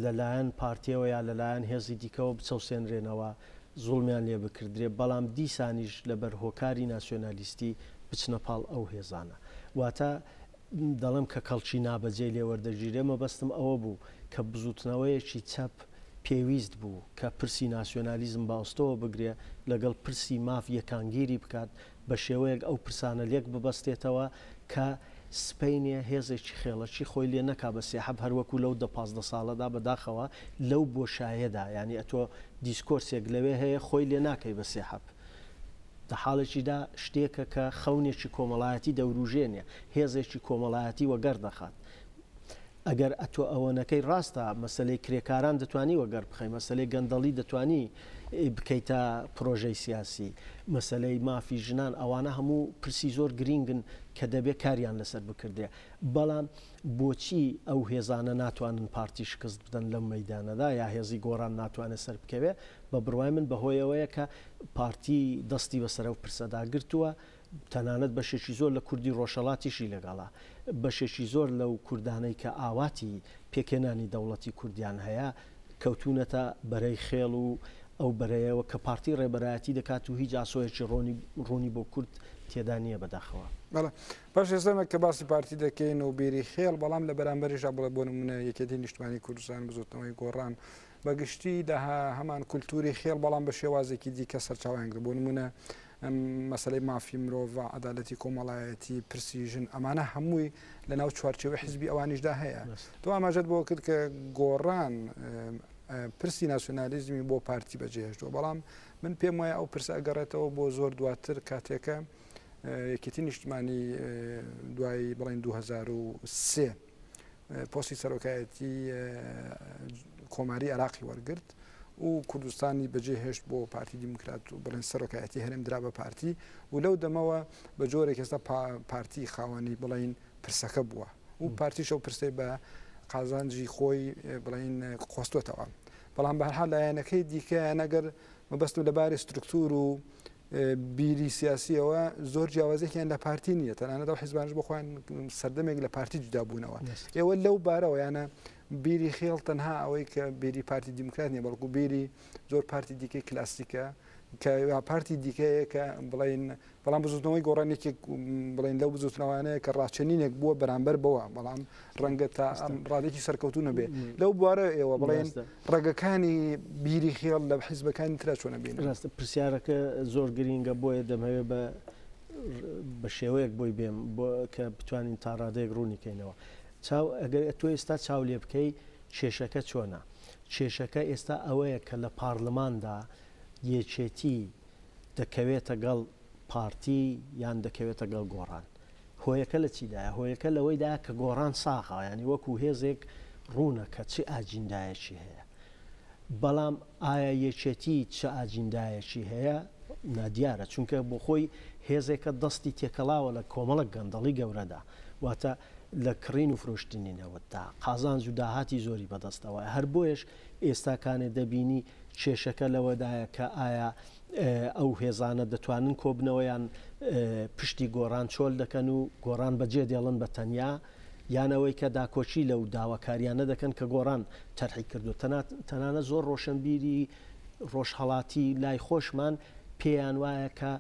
لەلایەن پارتیەوە یا لەلایەن هێزی دیکەوە بچەوسێنرێنەوە، زوڵمیان لێ بکردرێ، بەڵام دیسانیش لەبەر هۆکاری ناسیۆنالیستی بچنە پاڵ ئەو هێزانە. واتە دەڵێم کە کەڵکی نابەجێ لێ وەردەگیرێ، مەبەستم ئەوە بوو کە بزووتنەوەیەکی چەپ پێویست بوو کە پرسی ناسیۆنالیزم بە ئەستۆوە بگرێ، لەگەڵ پرسی ماف یەکانگیری بکات، بە شێوەیەک ئەو پرسانە لێک ببەستێتەوە کە سپەینێ هێزێکی خێڵەکی خۆی لێ نەکا بە سێحەب هەر وەکوو لەو دە پازدە ساڵەدا بە داخەوە لەو بۆشایەدا یانی ئەتۆ دیسکۆرسێک لەوێ هەیە خۆی لێ ناکەی بە سێحەب دە حاڵێکیدا شتێکە کە خەونێکی کۆمەڵایەتی دەوروژێنێ هێزێکی کۆمەڵایەتی وەگەڕ دەخات ئەگەر ئەتۆ ئەوەنەکەی ڕاستە مەسەلەی کرێکاران دەتوانی وەگەڕ بخەی مەسەلەی گەندەڵی دەتوانی بکەیتە پرۆژەی سیاسی مەسەلەی مافی ژنان ئەوانە هەموو پرسی زۆر گرینگن کە دەبێ کاریان لەسەر بکردێ بەڵام بۆچی ئەو هێزانە ناتوانن پارتی شکست بدەن لەم مەدانەدا یا هێزی گۆڕان ناتوانێت سەر بکەوێ بە بڕوای من بەهۆیەوەیە کە پارتی دەستی بەسەرەو پرسەدا گرتووە تەنانەت بەشێکی زۆر لە کوردی ڕۆژهەڵاتیشی لەگەڵە. بەشێکی زۆر لەو کوردانەی کە ئاواتی پێکهێنانی دەوڵەتی کوردیان هەیە، کەوتوونەتە بەرەی خێڵ و ئەو بەرەیەوە کە پارتی ڕێبەرایەتی دەکات و هیچ ئاسۆیەکی ڕوونی بۆ کورد تێدا نییە بەداخەوە. بەڵێ، پاش ئێستە کە باسی پارتی دەکەین و بیری خێڵ، بەڵام لە بەرامبەریشدا بڵێ بۆ نموونە یەکێتی نیشتمانی کوردستان، بزووتنەوەی گۆڕان، بە گشتی هەمان کولتووری خێڵ بەڵام بە شێوازێکی دیکە سەرچاوەیان گرت. بۆ نموونە مەسەلەی مافی مرۆڤ، عەدالەتی کۆمەڵایەتی، پرسی ژن، ئەمانە هەمووی لە ناو چوارچێوەی حیزبی ئەوانیشدا هەیە. تۆ ئاماژەت بەوە کرد کە گۆڕان پرسی ناسیۆنالیزمی بۆ پارتی بەجێهێشتووە، بەڵام من پێم وایە ئەو پرسە ئەگەڕێتەوە بۆ زۆر دواتر کاتێکە یەکێتی نیشتمانی دوای بڵین 2023 پۆستی سەرۆکایەتی کۆماری عراقی وەرگرت و کوردستانی بەجێ هێشت بۆ پارتی دیموکرات و بڵێن سەرۆکایەتی هەرێم درا بە پارتی و لەو دەمەوە بە جۆرێک ئێستا پارتی خاوەنی بڵین پرسەکە بووە و پارتیشە و پرسەی بە قازانجی خۆی بڵین قۆستۆتەوە بەڵام بەرها لایەنەکەی دیکە نەگەر مەبەستم لە باری سترکتور و بیری سیاسیەوە زۆر جیاوازێکیان لە پارتی نیە تەنانە دەو حزبانش بخۆیان سەردەمێک لە پارتی جدا بوونەوە ئێوە لەو بارەوە یانە بیری خێڵ تەنها ئەوەی کە بیری پارتی دیموکرات نیە بەڵکو بیری زۆر پارتی دیکەی کلاسیکە کە پارتی دیکەیە کە بڵین بەڵام بزوتنەوەی گۆڕان یەکێک بڵێن لەو بزوتنەوانەیە کە ڕاچەنینێک بووە بەرامبەر بەوە بەڵام ڕەنگە تا ئەم ڕادێکی سەرکەوتو نەبێ لەو بوارە ئێوە بڵێن ڕێگەکانی بیری خێڵ لە حیزبەکانی تررا چۆنە بین ڕاستە پرسیارەکە زۆر گرینگە بۆیە دەمەوێ بە بە شێوەیەک بۆی بێم بۆ کە بتوانین تا ڕادێک ڕوونی کەینەوە چاو ئەگەر تۆ ئێستا چاو لێ بکەی کێشەکە چۆنە کێشەکە ئێستا ئەوەیە کە لە پارلماندا یەکێتی دەکەوێتە گەڵ پارتی یان دەکەوێتە گەڵ گۆڕان هۆیەکە لە چیدایە؟ هۆیەکە لەوەیدایە کە گۆڕان ساغە یانی وەکو هێزێک ڕوونە کە چ ئاجیندایەکی هەیە بەڵام ئایا یەکێتی چ ئاجیندایەکی هەیە نادیارە چونکە بۆ خۆی هێزێکە دەستی تێکەڵاوە لە کۆمەڵک گەندەڵی گەورەدا واتە لە کڕین و فرۆشتنی نەوەتدا قازانج و داهاتی زۆری بەدەستەوە هەر بۆیش ئێستا کانێ دەبینی کێشەکە لەوەدایە کە ئایا ئەو هێزانە دەتوانن کۆبنەوە یان پشتی گۆڕان چۆل دەکەن و گۆڕان بەجێ دێڵن بە تەنیا یانەوەی کە داکۆچی لەو داواکاریانە دەکەن کە گۆڕان تەرحی کردو تەنانە زۆر ڕۆشنبیری ڕۆژهڵاتی لای خۆشمان پێیان وایە کە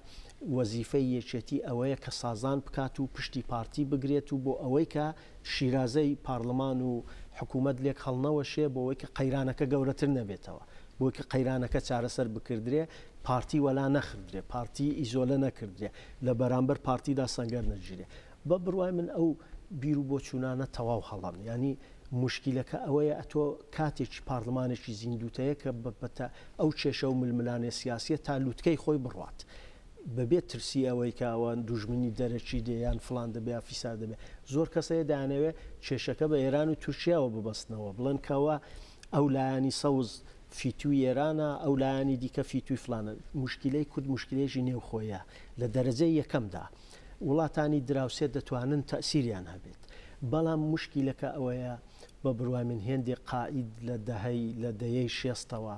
وەزیفەی یەکێتی ئەوەیە کە سازان بکات و پشتی پارتی بگرێت و بۆ ئەوەی کە شیرازەی پارڵمان و حکوومەت لێک هەڵنەوەشێ بۆوەی کە قەیرانەکە گەورەتر نەبێتەوە، بۆی کە قەیرانەکە چارەسەر بکردرێ، پارتی وەلا نەخردرێ، پارتی ئیزۆلە نەکردرێ، لە بەرانبەر پارتیدا سەنگەر نەگیرێ. بە بڕوای من ئەو بیر و بۆچوونانە تەواو هەڵەن. یانی موشکیلەکە ئەوەیە ئەتۆ کاتێکی پارڵمانێکی زیندووت هەیە کە بە پەتا ئەو کێشە و ململانێ سیاسییە تا لووتکەی خۆی بڕوات. بەبێ ترسی ئەوەی کە ئەوە دوژمنی دەرەکی دێ یان فڵان دەبێ یا فیسار دەبێ. زۆر کەس هەیە دەیانەوێ کێشەکە بە ئێران و تورکیاوە ببەستنەوە، بڵێن کە ئەوە ئەو لایەنی سەوز فیتووی ئێرانە، ئەو لایەنی دیکە فیتووی فڵانە. موشکیلەی کورد موشکیلەیەکی نێوخۆییە لە دەرەجەی یەکەمدا. وڵاتانی دراوسێ دەتوانن تەئسیریان هەبێت. بەڵام موشکیلەکە ئەوەیە بە بڕوای من هێندێک قائید لە دەهەی لە دەیەی شێستەوە،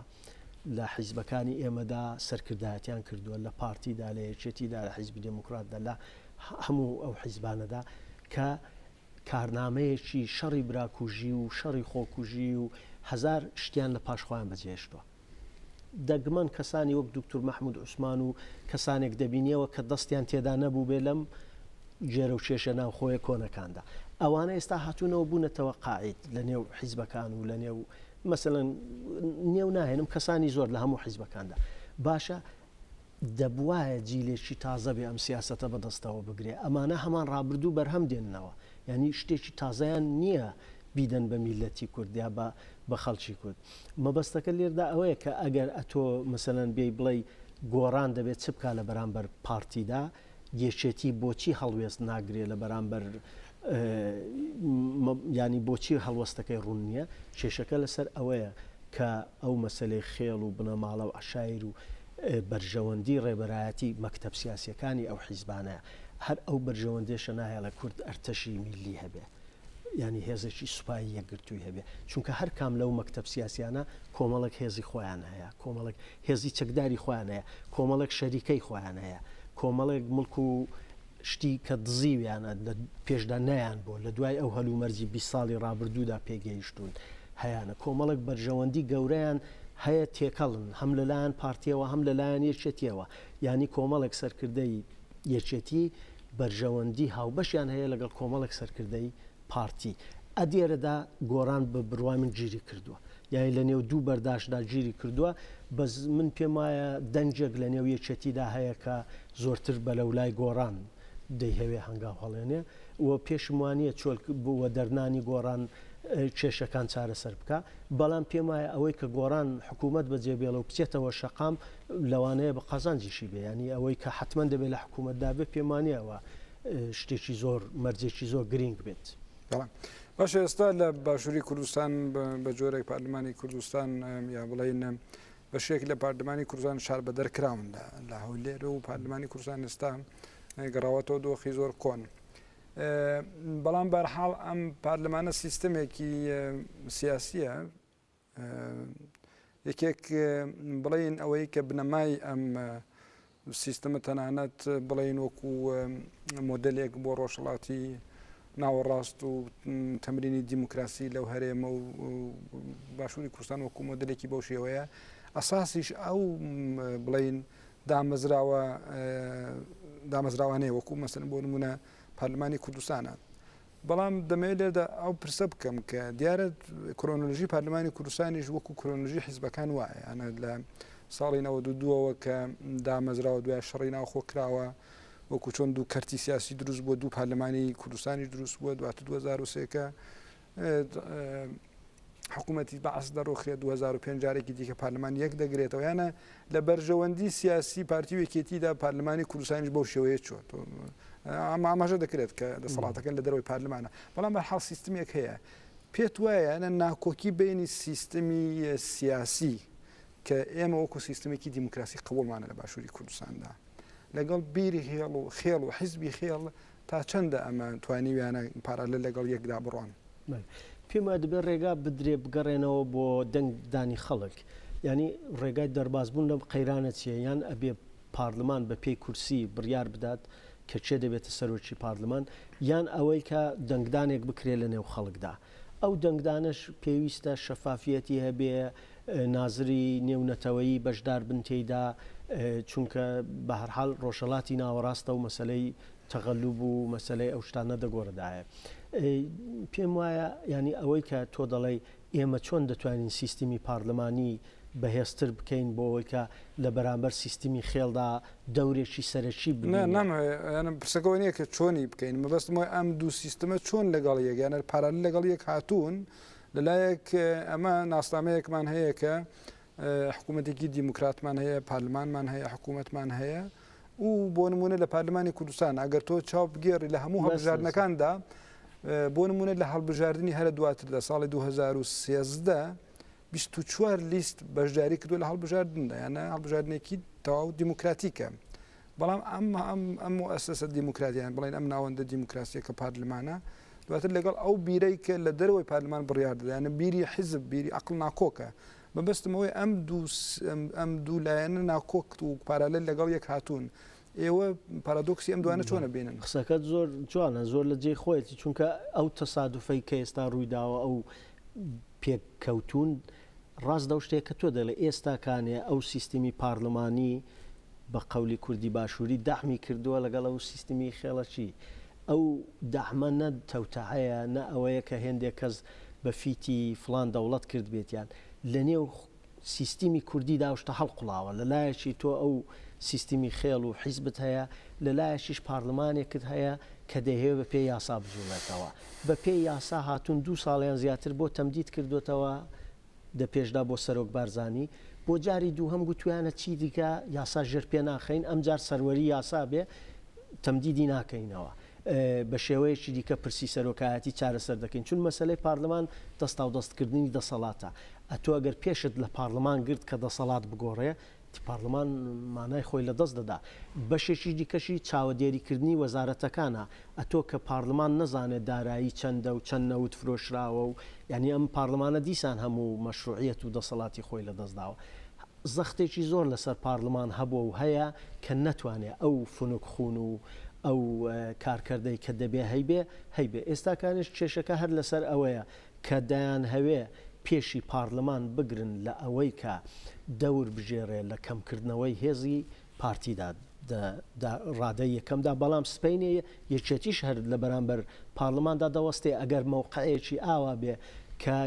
لە حیزبەکانی ئێمەدا سەرکردایەتیان کردووە، لە پارتیدا، لە یەکێتیدا، لە حیزبی دێموکراتدا، لە هەموو ئەو حیزبانەدا کە کارنامەیەکی شەڕی براکوژی و شەڕی خۆکوژی و هەزار شتیان لە پاش خۆیان بەجێهێشتووە. دەگمەن کەسانی وەک دوکتور مەحمود عوسمان و کەسانێک دەبینیەوە کە دەستیان تێدا نەبوو بێ لەم جێرە و کێشە ناوخۆیە کۆنەکاندا ئەوانە ئێستا هاتوونەوە بوونەتەوە قاعید لە نێو حیزبەکان و لە نێو مەسەلەن نێو ناهێنم کەسانی زۆر لە هەموو حیزبەکاندا باشە دەبواە جیلێکی تازە بێ ئەم سیاستە بەدەستەوە بگرێ ئەمانە هەمان ڕابردوو بەرهەم دێننەوە ینی شتێکی تازیان نییە بیدەن بە میلەتی کوردیا بە بە خەڵکی کورد مەبەستەکە لێردا ئەوەیە کە ئەگەر ئەتۆ مثلەن بێی بڵێ گۆڕان دەبێت چ بک لە بەرامبەر پارتیدا یەکێتی بۆچی هەڵوێست ناگرێ لە بەرامبەر یانی بۆچی هەڵوەستەکەی ڕوون نییە کێشەکە لەسەر ئەوەیە کە ئەو مەسلەی خێڵ و بنەماڵە و عشایر و بەرژەوەندی ڕێبەرایەتی مەکتب سیاسەکانی ئەو حیزبانە هەر ئەو بەرژەوەندێشە ناهێڵە کورد ئەرتەشی میلی هەبێ یانی هێزێکی سوپایی یەکگرتووی هەبێ چونکە هەر کام لەو مەکتەب سیاسیانە کۆمەڵێک هێزی خۆیان هەیە کۆمەڵێک هێزی چەکداری خۆیان هەیە کۆمەڵێک شەریکەی خۆیان هەیە کۆمەڵێک ملک و شتی کە دزیویانە لە پێشدا نیان بۆ لە دوای ئەو هەلومەرجی بی ساڵی ڕابردوودا پێگەیشتون هەیەە کۆمەڵک بەرژەوەندی گەورەیان هەیە تێکەڵن هەم لەلایەن پارتیەوە هەم لەلایەن یەکێتیەوە ینی کۆمەڵێک سەرکردەی یەکێتی بەرژەوەندی هاوبەشیان هەیە لەگەڵ کۆمەڵێک سەرکردەی پارتی. ئەدێرەدا گۆڕان بە بڕوای من گیری کردووە. یانی لە نێو دوو بەرداشدا گیری کردووە. بەس من پێم وایە دەنگێک لە نێو یەکێتیدا هەیە کە زۆرتر بە لە لای گۆڕان دەیهەوێ هەنگاو هەڵێنێ و پێشم وانییە چۆل و دەرنانی گۆڕان کێشەکان چارەسەر بکا. بەڵام پێم وایە ئەوەی کە گۆڕان حکوومەت بە جێ بێڵێ و بچێتەوە شەقام لەوانەیە بە قازانجیشی بێ یانی ئەوەی کە حتمما دەبێت لە حکوومەتدا بێ پێم وانە ئەوە شتێکی زۆر مەرجێکی زۆر گرنگ بێت. باش ئێستا لە باشووری کوردستان بە جۆرێک پارلمانی کوردستان یا بڵین بە شێک لە پارلمانی کوردستان شار بە دەرکراون لە هەولێر و پارلمانی کوردستان ئێستا گەڕاوەتەوە دۆخی زۆر کۆن. بەڵام بەرحاڵ ئەم پارلمانە سیستمێکی سیاسیە یەکێک بڵێین ئەوەی کە بنەمای ئەم سیستەمە تەنانەت بڵێین وەکو مۆدلێک بۆ ڕۆژهڵاتی ناوەڕاست و تەمرینی دیموکراسی لەو هەرێمە و باشووری کوردستان وەکو مۆدلێکی بەو شێوەیە ئەساسیش ئەو بڵین دامەزراوە دامەزراوانەیە وەکو مەسن بۆ نمونە پەرلمانی کوردستانە بەڵام دەمەوێت لێرەدا ئەو پرسە بکەم کە دیارە کرۆنۆلژی پارلمانی کوردستانیش وەکو کرۆنۆلژی حیزبەکان وایە یانە لە ساڵی 92ەوە کە دامەزراوە دوای شەڕی ناوخۆ کراوە وەکو چۆن دوو کەرتی سیاسی دروست بووە دوو پارلمانی کوردستانی دروست بووە دواتر 2023کە حکومەتی بەعس دەڕوخێت دوو هەزار و پێنج جارێکی دیکە پارلمان یەک دەگرێتەوە یانە لە بەرژەوەندی سیاسی پارتی و یەکێتیدا پارلمانی کوردستانیش بەو شێوەیە چۆن تۆ ئەم ئاماژە دەکرێت کە دەسەڵاتەکەن لە دەرەوەی پارلمانە بەڵام بە حاڵ سیستمێک هەیە پێت وایە نە ناکۆکی بینی سیستمی سیاسی کە ئێمە وەکو سیستمێکی دیموکراسی قبولمانە لە باشووری کوردستاندا لەگەڵ بیری هێڵ و خێڵ و حزبی خێڵ تا چەندە ئەمە توانیویانە پارالێل لەگەڵ یەکدا بڕۆن؟ پێم وایە دەبێت ڕێگا بدرێت بگەڕێنەوە بۆ دەنگدانی خەڵک. یانی ڕێگای دەربازبوون لەم قەیرانە چییە؟ یان ئەبێت پارلمان بەپێی کورسی بڕیار بدات کە کێ دەبێتە سەرۆکی پارلمان؟ یان ئەوەی کە دەنگدانێک بکرێت لەنێو خەڵکدا؟ ئەو دەنگدانەش پێویستە شەفافییەتی هەبێت، نازری نێونەتەوەیی بەشداربن تێیدا، چونکە بەهەرحاڵ ڕۆژهەڵاتی ناوەڕاستە و مەسەلەی تەغەلوب و مەسەلەی ئەو شتانە دەگۆڕدایە پێم وایە ینی ئەوەی کە تۆ دەڵێی ئێمە چۆن دەتوانین سیستمی پارلمانی بەهێزتر بکەین بۆ ئەوەی کە لە بەرامبەر سیستمی خێڵدا دەورێکی سەرەکی بنامەیانم پرسەکەەوە نیە کە چۆنی بکەین مەبەستمەوە ئەم دوو سیستمە چۆن لەگەڵ یەگەیانەر پارال لەگەڵ یەک هاتوون لەلایەک ئەمە ناسنامەیەکمان هەیە کە حکوومەتێکی دیموکراتمان هەیە، پارلمانمان هەیە، حکوومەتمان هەیە و بۆ نمونە لە پارلمانی کوردستان ئەگەر تۆ چاو بگێڕی لە هەموو هەڵبژاردنەکاندا بۆ نمونە لە هەڵبژاردننی هەرە دواتر لە ساڵی 2013 24 لیست بەشداری کردو لە هەڵبژاردندا یانە هەڵبژاردنێکی تەواو دیموکراتیکە بەڵام ئەمە ئەم ئەم ئەسەسە دیموکراتیان بڵێن ئەم ناوەندە دیموکراسی کە پارلمانە دواتر لەگەڵ ئەو بیرەی کە لە دەرەوەی پارلمان بڕیار دەدا، یانە بیری حیزب، بیری عەقڵ ناکۆکە. مەبەستم ئەوەیە ئەم دوو ئەم دوو لایەنە ناکۆک و پارالێل لەگەڵ یەک هاتوون. ئێوە پارادۆکسی ئەم دوانە چۆن ئەبینن؟ قسەکەت زۆر جوانە، زۆر لە جێی خۆیەتی، چونکە ئەو تەسادوفەی کە ئێستا ڕووی داوە، ئەو پێککەوتوون، ڕاست لەو شتەیە کە تۆ دەڵێی ئێستا کانێ ئەو سیستمی پارلمانی بە قەولی کوردی باشوری دەعمی کردوە لەگەڵ ئەو سیستمی خێڵەکی ئەو دەعمە نە تەوتەعەیە نە ئەوەیە کە هێندێ کەس بە فیتی فڵان دەوڵەت کردبێتیان لە نێو سیستمی کوردی دا ئەو شتە هەڵقوڵاوە لە لایەکی تۆ ئەو سیستمی خێڵ و حیزبت هەیە لە لایەکیش پارلمانێکت هەیە کە دەیهەوێ بە پێی یاسا بجوڵێتەوە. بە پێی یاسا هاتوون دوو ساڵ یان زیاتر بۆ تەمدید کردۆتەوە دە پێشدا بۆ سەرۆک بارزانی بۆ جاری دووهەم گوتویانە چی دیکە یاسا ژێر پێ ناخەین ئەم جار سەروەری یاسا بێ تەمدیدی ناکەینەوە بە شێوەیەکی دیکە پرسی سەرۆکایەتی چارەسەر دەکەین چون مەسلەی پارلمان دەستاو دەستکردنی دەسەڵاتە ئەتۆ گەر پێشت لە پارلمان گرت کە دەسەڵات بگۆڕێ پارلمان مانای خۆی لە دەست دەدا. بەشێکی دیکەشی چاوەدێریکردنی وەزارەتەکانە، ئەتۆ کە پارلمان نەزانێت دارایی چەندە و چەند نەوت فرۆشراوە و یانی ئەم پارلمانە دیسان هەموو مەشروعیەت و دەسەڵاتی خۆی لە دەست داوە. زەختێکی زۆر لەسەر پارلمان هەبووە و هەیە کە نەتوانێت ئەو فنک خوون و ئەو کارکەردەی کە دەبێ هەیبێ، هەیبێ. ئێستاکانیش کێشەکە هەر لەسەر ئەوەیە کە دەیانهەوێ پێشی پارلمان بگرن لە ئەوەی کە دەور بگێڕێ لە کەمکردنەوەی هێزی پارتیدا دە ڕادەی یەکەمدا، بەڵام سبەینێ یەکێتیش هەر لە بەرامبەر پارلماندا دەوەستێ، ئەگەر مەوقعێکی ئاوا بێ کە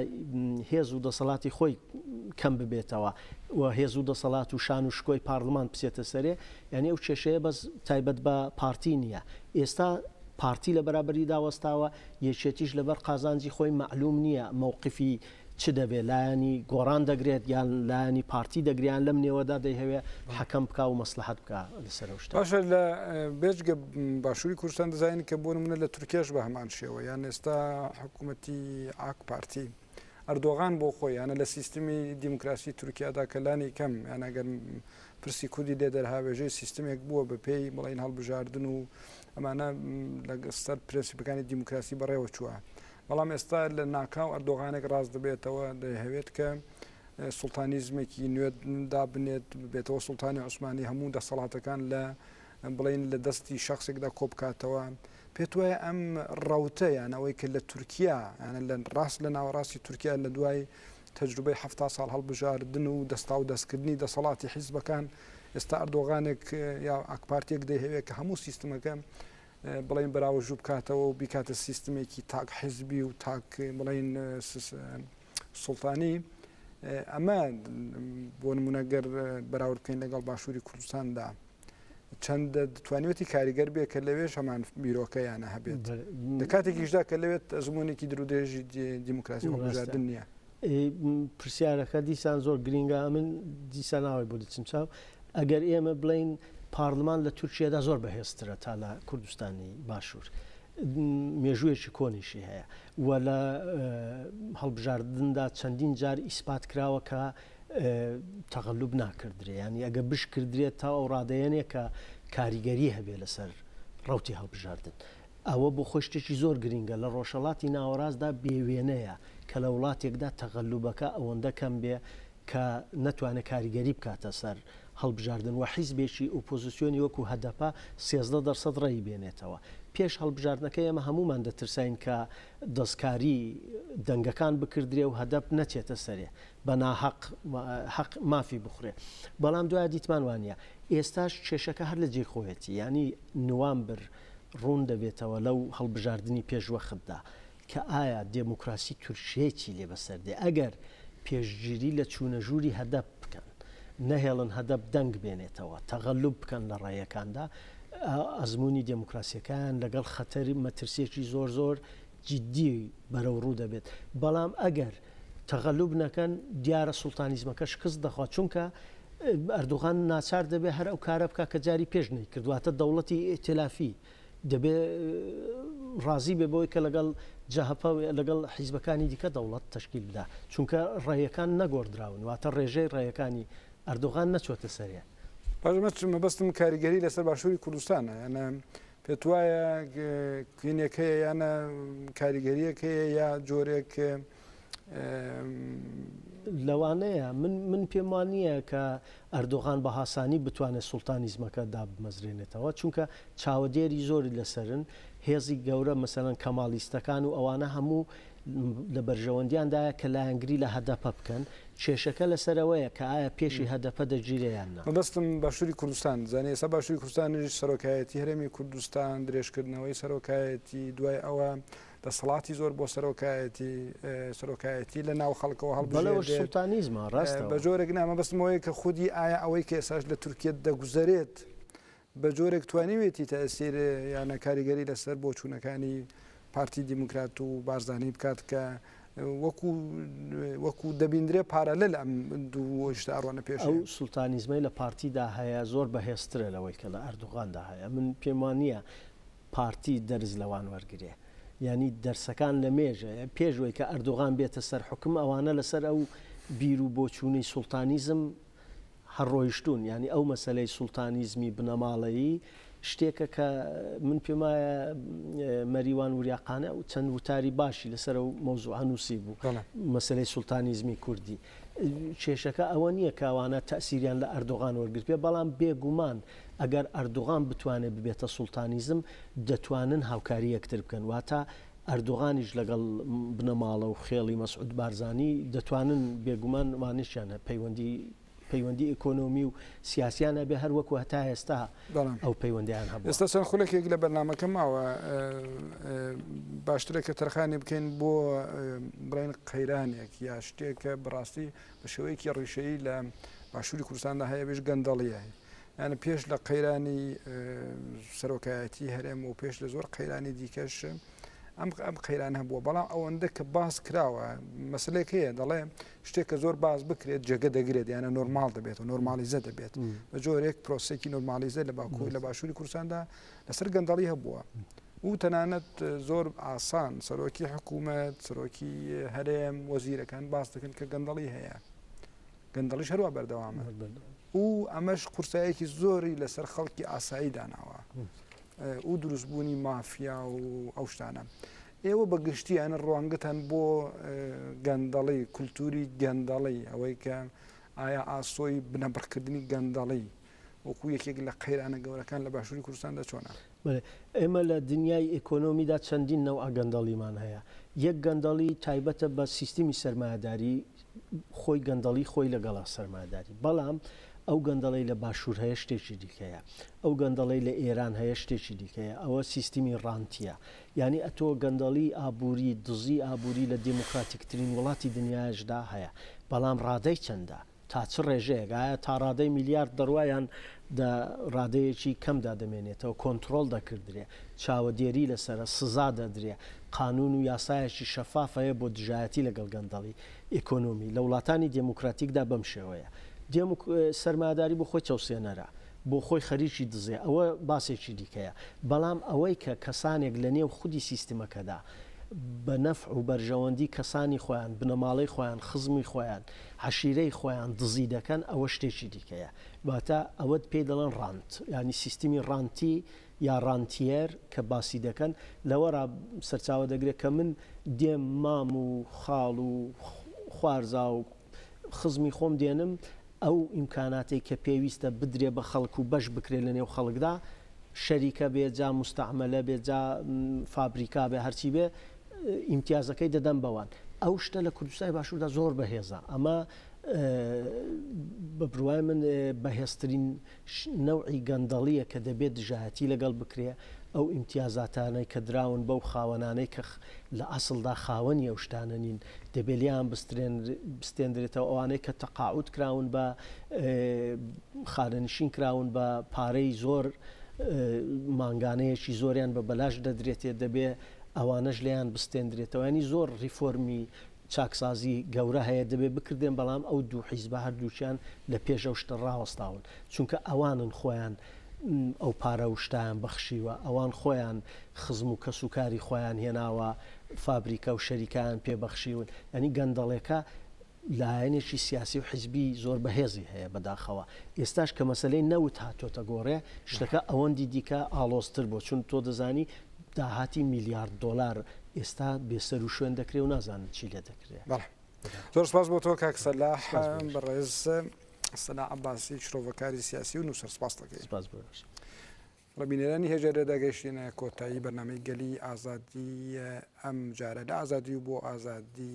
هێز و دەسەڵاتی خۆی کەم ببێتەوە و هێز و دەسەڵات و شان و شکۆی پارلمان بچێتە سەرێ، یانی ئەو کێشەیە بەس تایبەت بە پارتی نییە، ئێستا پارتی لە بەرابەریدا وەستاوە، یەکێتیش لەبەر قازانجی خۆی مەعلوم نییە مەوقفی چ دەبێت، لایەنی گۆڕان دەگرێت یان لایەنی پارتی دەگرێت یان لەم نێوەدا دەیهەوێت حەکەم بکا و مەسڵەحەت بکا لەسەر ئەو شتە. باشە لە بێجگە باشووری کوردستان دەزانین کە بۆ نموونە لە تورکیاش بە هەمان شێوە یان ئێستا حکوومەتی ئاک پارتی ئەردۆغان بۆ خۆی یانە لە سیستمی دیموکراسی تورکیادا کە لانی کەم یان ئەگەر پرسی کوردی لێ دەرهاوێژەی سیستمێک بووە بە پێی بڵین هەڵبژاردن و ئەمانە لە سەر پرەنسیپەکانی دیموکراسی بەڕێوە چووە بەڵام ئێستا لە ناکاو ئەردۆغانێک ڕاست دەبێتەوە دەهەوێت کە سلتانیزمێکی نوێت دابنێت بێتەوە سلتانی عوسمانی هەموو دەسەڵاتەکان لە بڵین لە دەستی شخصێکدا کۆبکاتەوە پێت وایە ئەم ڕوتە یانەوەی کە لە تورکیا یانە لە ڕاست لە ناوەڕاستی تورکیا لە دوای تەجروبەی حەفتا ساڵ هەڵبژاردن و دەستاودەستکردنی دەسەڵاتی حیزبەکان، ئێستا ئەردۆغانێک یا ئاکپارتییەک دەیهەوێت کە هەموو سیستمەکە بڵێین بەراوەژوو بکاتەوە و بیکاتە سیستمێکی تاک حیزبی و تاک بڵێین سوڵتانی ئەمە بۆ نمونەگەر بەراورد بکەین لەگەڵ باشووری کوردستاندا. چەندە دەتوانێتی کاریگەر بێ کە لەوێش هەمان بیرۆکە یانە هەبێت لە کاتێکیشدا کە لەوێت ئەزمونێکی درودێژی دیموکراسی هەڵبژاردن نییە پرسیارەکە دیسان زۆر گرنگە من دیسان ناوی بۆ دەچم چاو ئەگەر ئێمە بڵین پارلمان لە تورکیادا زۆر بەهێزترە تا لە کوردستانی باشوور. مێژوویەکی کۆنیشی هەیە و لە هەڵبژاردندا چەندین جار ئیسپات کراوە کە تەغەلوب ناکردرێ یانی ئەگە بشکردرێت تا ئەو ڕادەیەنێ کە کاریگەری هەبێ لەسەر ڕوتی هەڵبژاردن ئەوە بۆ خۆی شتێکی زۆر گرنگە لە ڕۆژەڵاتی ناوەڕاستدا بێوێنەیە کە لە وڵاتێکدا تەغەلوبەکە ئەوەندە کەم بێ کە نەتوانێت کاریگەری بکاتە سەر هەڵبژاردن و حیزبێکی ئوپۆزیسیۆنی وەکو هەدەپە سێزدە دەرسەد ڕێی بێنێتەوە پێش هەڵبژاردنەکە ئێمە هەمومان دەترساین کە دەستکاری دەنگەکان بکردرێ و هەدەپ نەچێتە سەرێ بە ناهەق هەق مافی بخورێ بەڵام دوایە دیتمان وانە ئێستاش کێشەکە هەر لە جێی خۆیەتی یانی نوامبر ڕوون دەبێتەوە لەو هەڵبژاردنی پێش وەختدا کە ئایا دێموکراسی تورکیای چی لێ بەسەر دێ ئەگەر پێشگیری لە چوونە ژووری هەدەپ بکەن نەهێڵن هەدەپ دەنگ بێنێتەوە تەغەلوب بکەن لە ڕێیەکاندا ئەزمموی دێموکراسیەکان لەگەڵ خەتەری مەترسیەکی زۆر زۆر جیددی بەرەو ڕوو دەبێت، بەڵام ئەگەر تەغەلوب نەکەن دیارە سوڵتانیزمەکە شکست دەخوات، چونکە ئەردوغان ناچار دەبێت هەر ئەو کارە بکات کە جاری پێش نەیکرد، واتە دەوڵەتی ئیتیلافی دەبێت ڕازی بێت بەوەی کە لەگەڵ جەهەپە و لەگەڵ حیزبەکانی دیکە دەوڵەت تەشکیل بدا، چونکە ڕێیەکان نەگۆڕدراون، واتە ڕێژەی ڕێیەکانی ئەردوغان نەچۆتە سەرێ. باش، مەبەستم کاریگەری لەسەر باشوری کوردستانە، یان پێت وایە کوینێک هەیە یانە کاریگەریەک هەیە یا جۆرێک لەوانەیە من پێم وا نییە کە ئەردۆغان بە هاسانی بتوانێت سوڵتانیزمەکە دابمەزرێنێتەوە چونکە چاوەدێری زۆری لەسەرن هێزی گەورە مەسەن کەماڵیستەکان و ئەوانە هەموو لە بەرژەوەندیان دایە کە لایەنگری لە هەدەپە بکەن، کێشەکە لەسەر ئەوەیە کە ئایا پێشی هەدەپە دەگیرێ یان نا. مەبەستم باشوری کوردستان زانی ئێستا باشوری کوردستانیش سەرۆکایەتی هەرێمی کوردستان درێژکردنەوەی سەرۆکایەتی دوای ئەوە دەسەڵاتی زۆر بۆ سەرۆکایەتی سەرۆکایەتی لە ناو خەڵکەوە هەڵبژێردێت بە جۆرێک نا مەبەستمەوەی کە خودی ئایا ئەوەی کە ئێساش لە تورکیە دەگوزەرێت بە جۆرێک توانیوێتی تەئسیر یانە کاریگەری لەسەر بۆچوونەکانی پارتی دیموکرات و بارزانی بکات کە وەکو وەکو دەبیندرێ پارالل ئەم دوو شتە ئەڕۆنە پێش ئەو سولتانیزمەی لە پارتیدا هەیە زۆر بەهێزترە لەوەی کە لە ئەردوغاندا هەیە من پێم وان نییە پارتی دەرز لەوان وەرگرێ یانی دەرسەکان لە مێژەیە پێشوەی کە ئەردوغان بێتە سەر حکم ئەوانە لەسەر ئەو بیر و بۆچوونەی سولتانیزم هەر ڕۆیشتوون یانی ئەو مەسەلەی سوڵتانیزمی بنەماڵەیی شتێکە کە من پێم وایە مەریوان وریا قانع و چەند وتاری باشی لەسەر و مەوزوعە نووسی بوو مەسلەی سوڵتانیزمی کوردی کێشەکە ئەوە نییە کاوانە تەسیریان لە ئەردۆغان وەرگر پێ بەڵام بێگومان ئەگەر ئەردوغان بتوانێت ببێتە سوڵتانیزم دەتوانن هاوکاری یەکتر بکەن واتە ئەردوغانیش لەگەڵ بنەماڵە و خێڵی مەسعود بارزانی دەتوانن بێگومان وانەشیان هەیە پەیوەندی پەیوەندی ئیکۆنۆمی و سیاسیان هەبێ هەر وەکو هەتا ئێستا بەڵام ئەو پەیوەندیان هەبوو ئێستا چەند خولەکێک لە بەرنمەکە ماوە باشترە کە تەرخانی بکەین بۆ بڵین قەیرانێک یا شتێک کە بڕاستی بە شێوەیەکی ڕیشەیی لە باشووری کوردستاندا هەیە بێژ گەندەڵیە یان پێش لە قەیرانی سەرۆکایەتی هەرێم و پێش لە زۆر قەیرانی دیکەش ئەم ئەم قەیران هەبووە بەڵام ئەوەندە کە باس کراوە مەسلێک هەیە دەڵێ شتێک کە زۆر باز بکرێت جێگە دەگرێت یانە نۆرمال دەبێت و نۆرمالیزە دەبێت بە جۆرێک پرۆسێکی نۆرمالیزە لە باکوور لە باشووری کورساندا لەسەر گەندەڵی هەبووە و تەنانەت زۆر ئاسان سەرۆکی حکوومەت سەرۆکی هەرێم وەزیرەکان باس دەکەن کە گەندەڵی هەیە. گەندەڵیش هەروا بەردەوامە و ئەمەش قورسایەکی زۆری لەسەر خەڵکی ئاسایی داناوە و دروستبوونی مافیا و ئەو شتانە ئێوە بە گشتیانە ڕوانگەتان بۆ گەندەڵی کولتوری گەندەڵی ئەوەی کە ئایا ئاسۆی بنەبڕکردنی گەندەڵی وەکو یەکێک لە قەیرانە گەورەکان لە باشوری کوردستاندا چۆنە؟ بەێ ئێمە لە دنیای ئێکۆنۆمیدا چەندین نەوعە گەندەڵیمان هەیە، یەک گەندەڵی تایبەتە بە سیستمی سەرمایەداری خۆی گەندەڵی خۆی لەگەڵا سەرمایەداری بەڵام ئەو گەندەڵی لە باشور هەیە شتێکی دیکەیە ئەو گەندەڵی لە ئێران هەیە شتێکی دیکەیە ئەوە سیستمی ڕانتیە یعنی ئەتۆ گەندەڵی ئابووری دزی ئابووری لە دیموکراتیکترین وڵاتی دنیاشدا هەیە بەڵام ڕادەی چەندە؟ تا چ ڕێژەیەک؟ ئایا تاڕادەی میلیارد دەڕوا یان دە ڕادەیەکی کەمدا دەمێنێتەوە؟ کۆنتڕۆڵ دەکردرێ؟ چاوەدێری لەسەرە؟ سزا دەدرێ؟ قانوون و یاسایەکی شەفاف هەیە بۆ دژایەتی لەگەڵ گەندەڵی ئیکۆنۆمی؟ لە وڵاتانی دێموکراتیکدا بەم شێوەیە. دێموک سەرمایەداری بۆ خۆی چەوسێنەرە، بۆ خۆی خەریکی دزێ، ئەوە باسێکی دیکەیە. بەڵام ئەوەی کە کەسانێک لە نێو خودی سیستمەکەدا بە نەفع و بەرژەوەندی کەسانی خۆیان، بنەماڵەی خۆیان، خزمی خۆیان، عەشیرەی خۆیان دزی دەکەن ئەوە شتێکی دیکەیە واتە ئەوەت پێی دەڵێن ڕانت یانی سیستمی ڕانتی یا ڕانتیەر کە باسی دەکەن لەوەڕا سەرچاوە دەگرێت کە من دێم مام و خاڵ و خوارزا و خزمی خۆم دێنم ئەو ئیمکاناتی کە پێویستە بدرێ بە خەڵک و بەش بکرێت لە نێو خەڵکدا شەریکە بێ جا مستعملە بێ جا فابریکا بێ هەرچی بێ ئیمتیازەکەی دەدەن بەوان ئەو شتە لە کوردستانی باشووردا زۆر بەهێزە ئەمە بە بڕوای من بەهێزترین نەوعی گەندەڵیە کە دەبێت دژایەتی لەگەڵ بکرێ ئەو ئیمتیازاتانەی کە دراون بەو خاوەنانەی کە لە ئەسڵدا خاوەنی ئەو شتانە نین دەبێلیان بستێندرێتەوە ئەوانەی کە تەقاعود کراون بە خانەنشین کراون بە پارەی زۆر مانگانەیەکی زۆریان بە بەلاش دەدرێتێ دەبێ ئەوانەش لێیان بستێندرێتەوە یانی زۆر ریفۆرمی چاکسازی گەورە هەیە دەبێت بکردێن بەڵام ئەو دوو حیزبە هەردووکیان لە پێش ئەو شتە ڕاوەستاون چونکە ئەوانن خۆیان ئەو پارە و شتیان بەخشیوە ئەوان خۆیان خزم و کەس و کاری خۆیان هێناوە فابریکە و شەریکیان پێبەخشیون ینی گەندەڵێکە لایەنێکی سیاسی و حیزبی زۆر بەهێزی هەیە بەداخەوە ئێستاش کە مەسەلەی نەوت هاتۆتە گۆڕێ شتەکە ئەوەندی دیکە ئاڵۆزتر بۆ چون تۆ دەزانی داهاتی میلیارد دۆلار ئێستا بێسەر و شوێن دەکرێ و نازانن چی لێ دەکرێ بەڵێ زۆر سپاس بۆ تۆ کاک سەلاح بەڕێز سەنا عباسی شرۆڤەکاری سیاسی و نووسەر سپاس دەکەین سپاس بەش ڕبینەرانی هێژە لێدا گەشتێنە کۆتایی بەنامەی گەلی ئازادی ئەم جارە لە ئازادی و بۆ ئازادی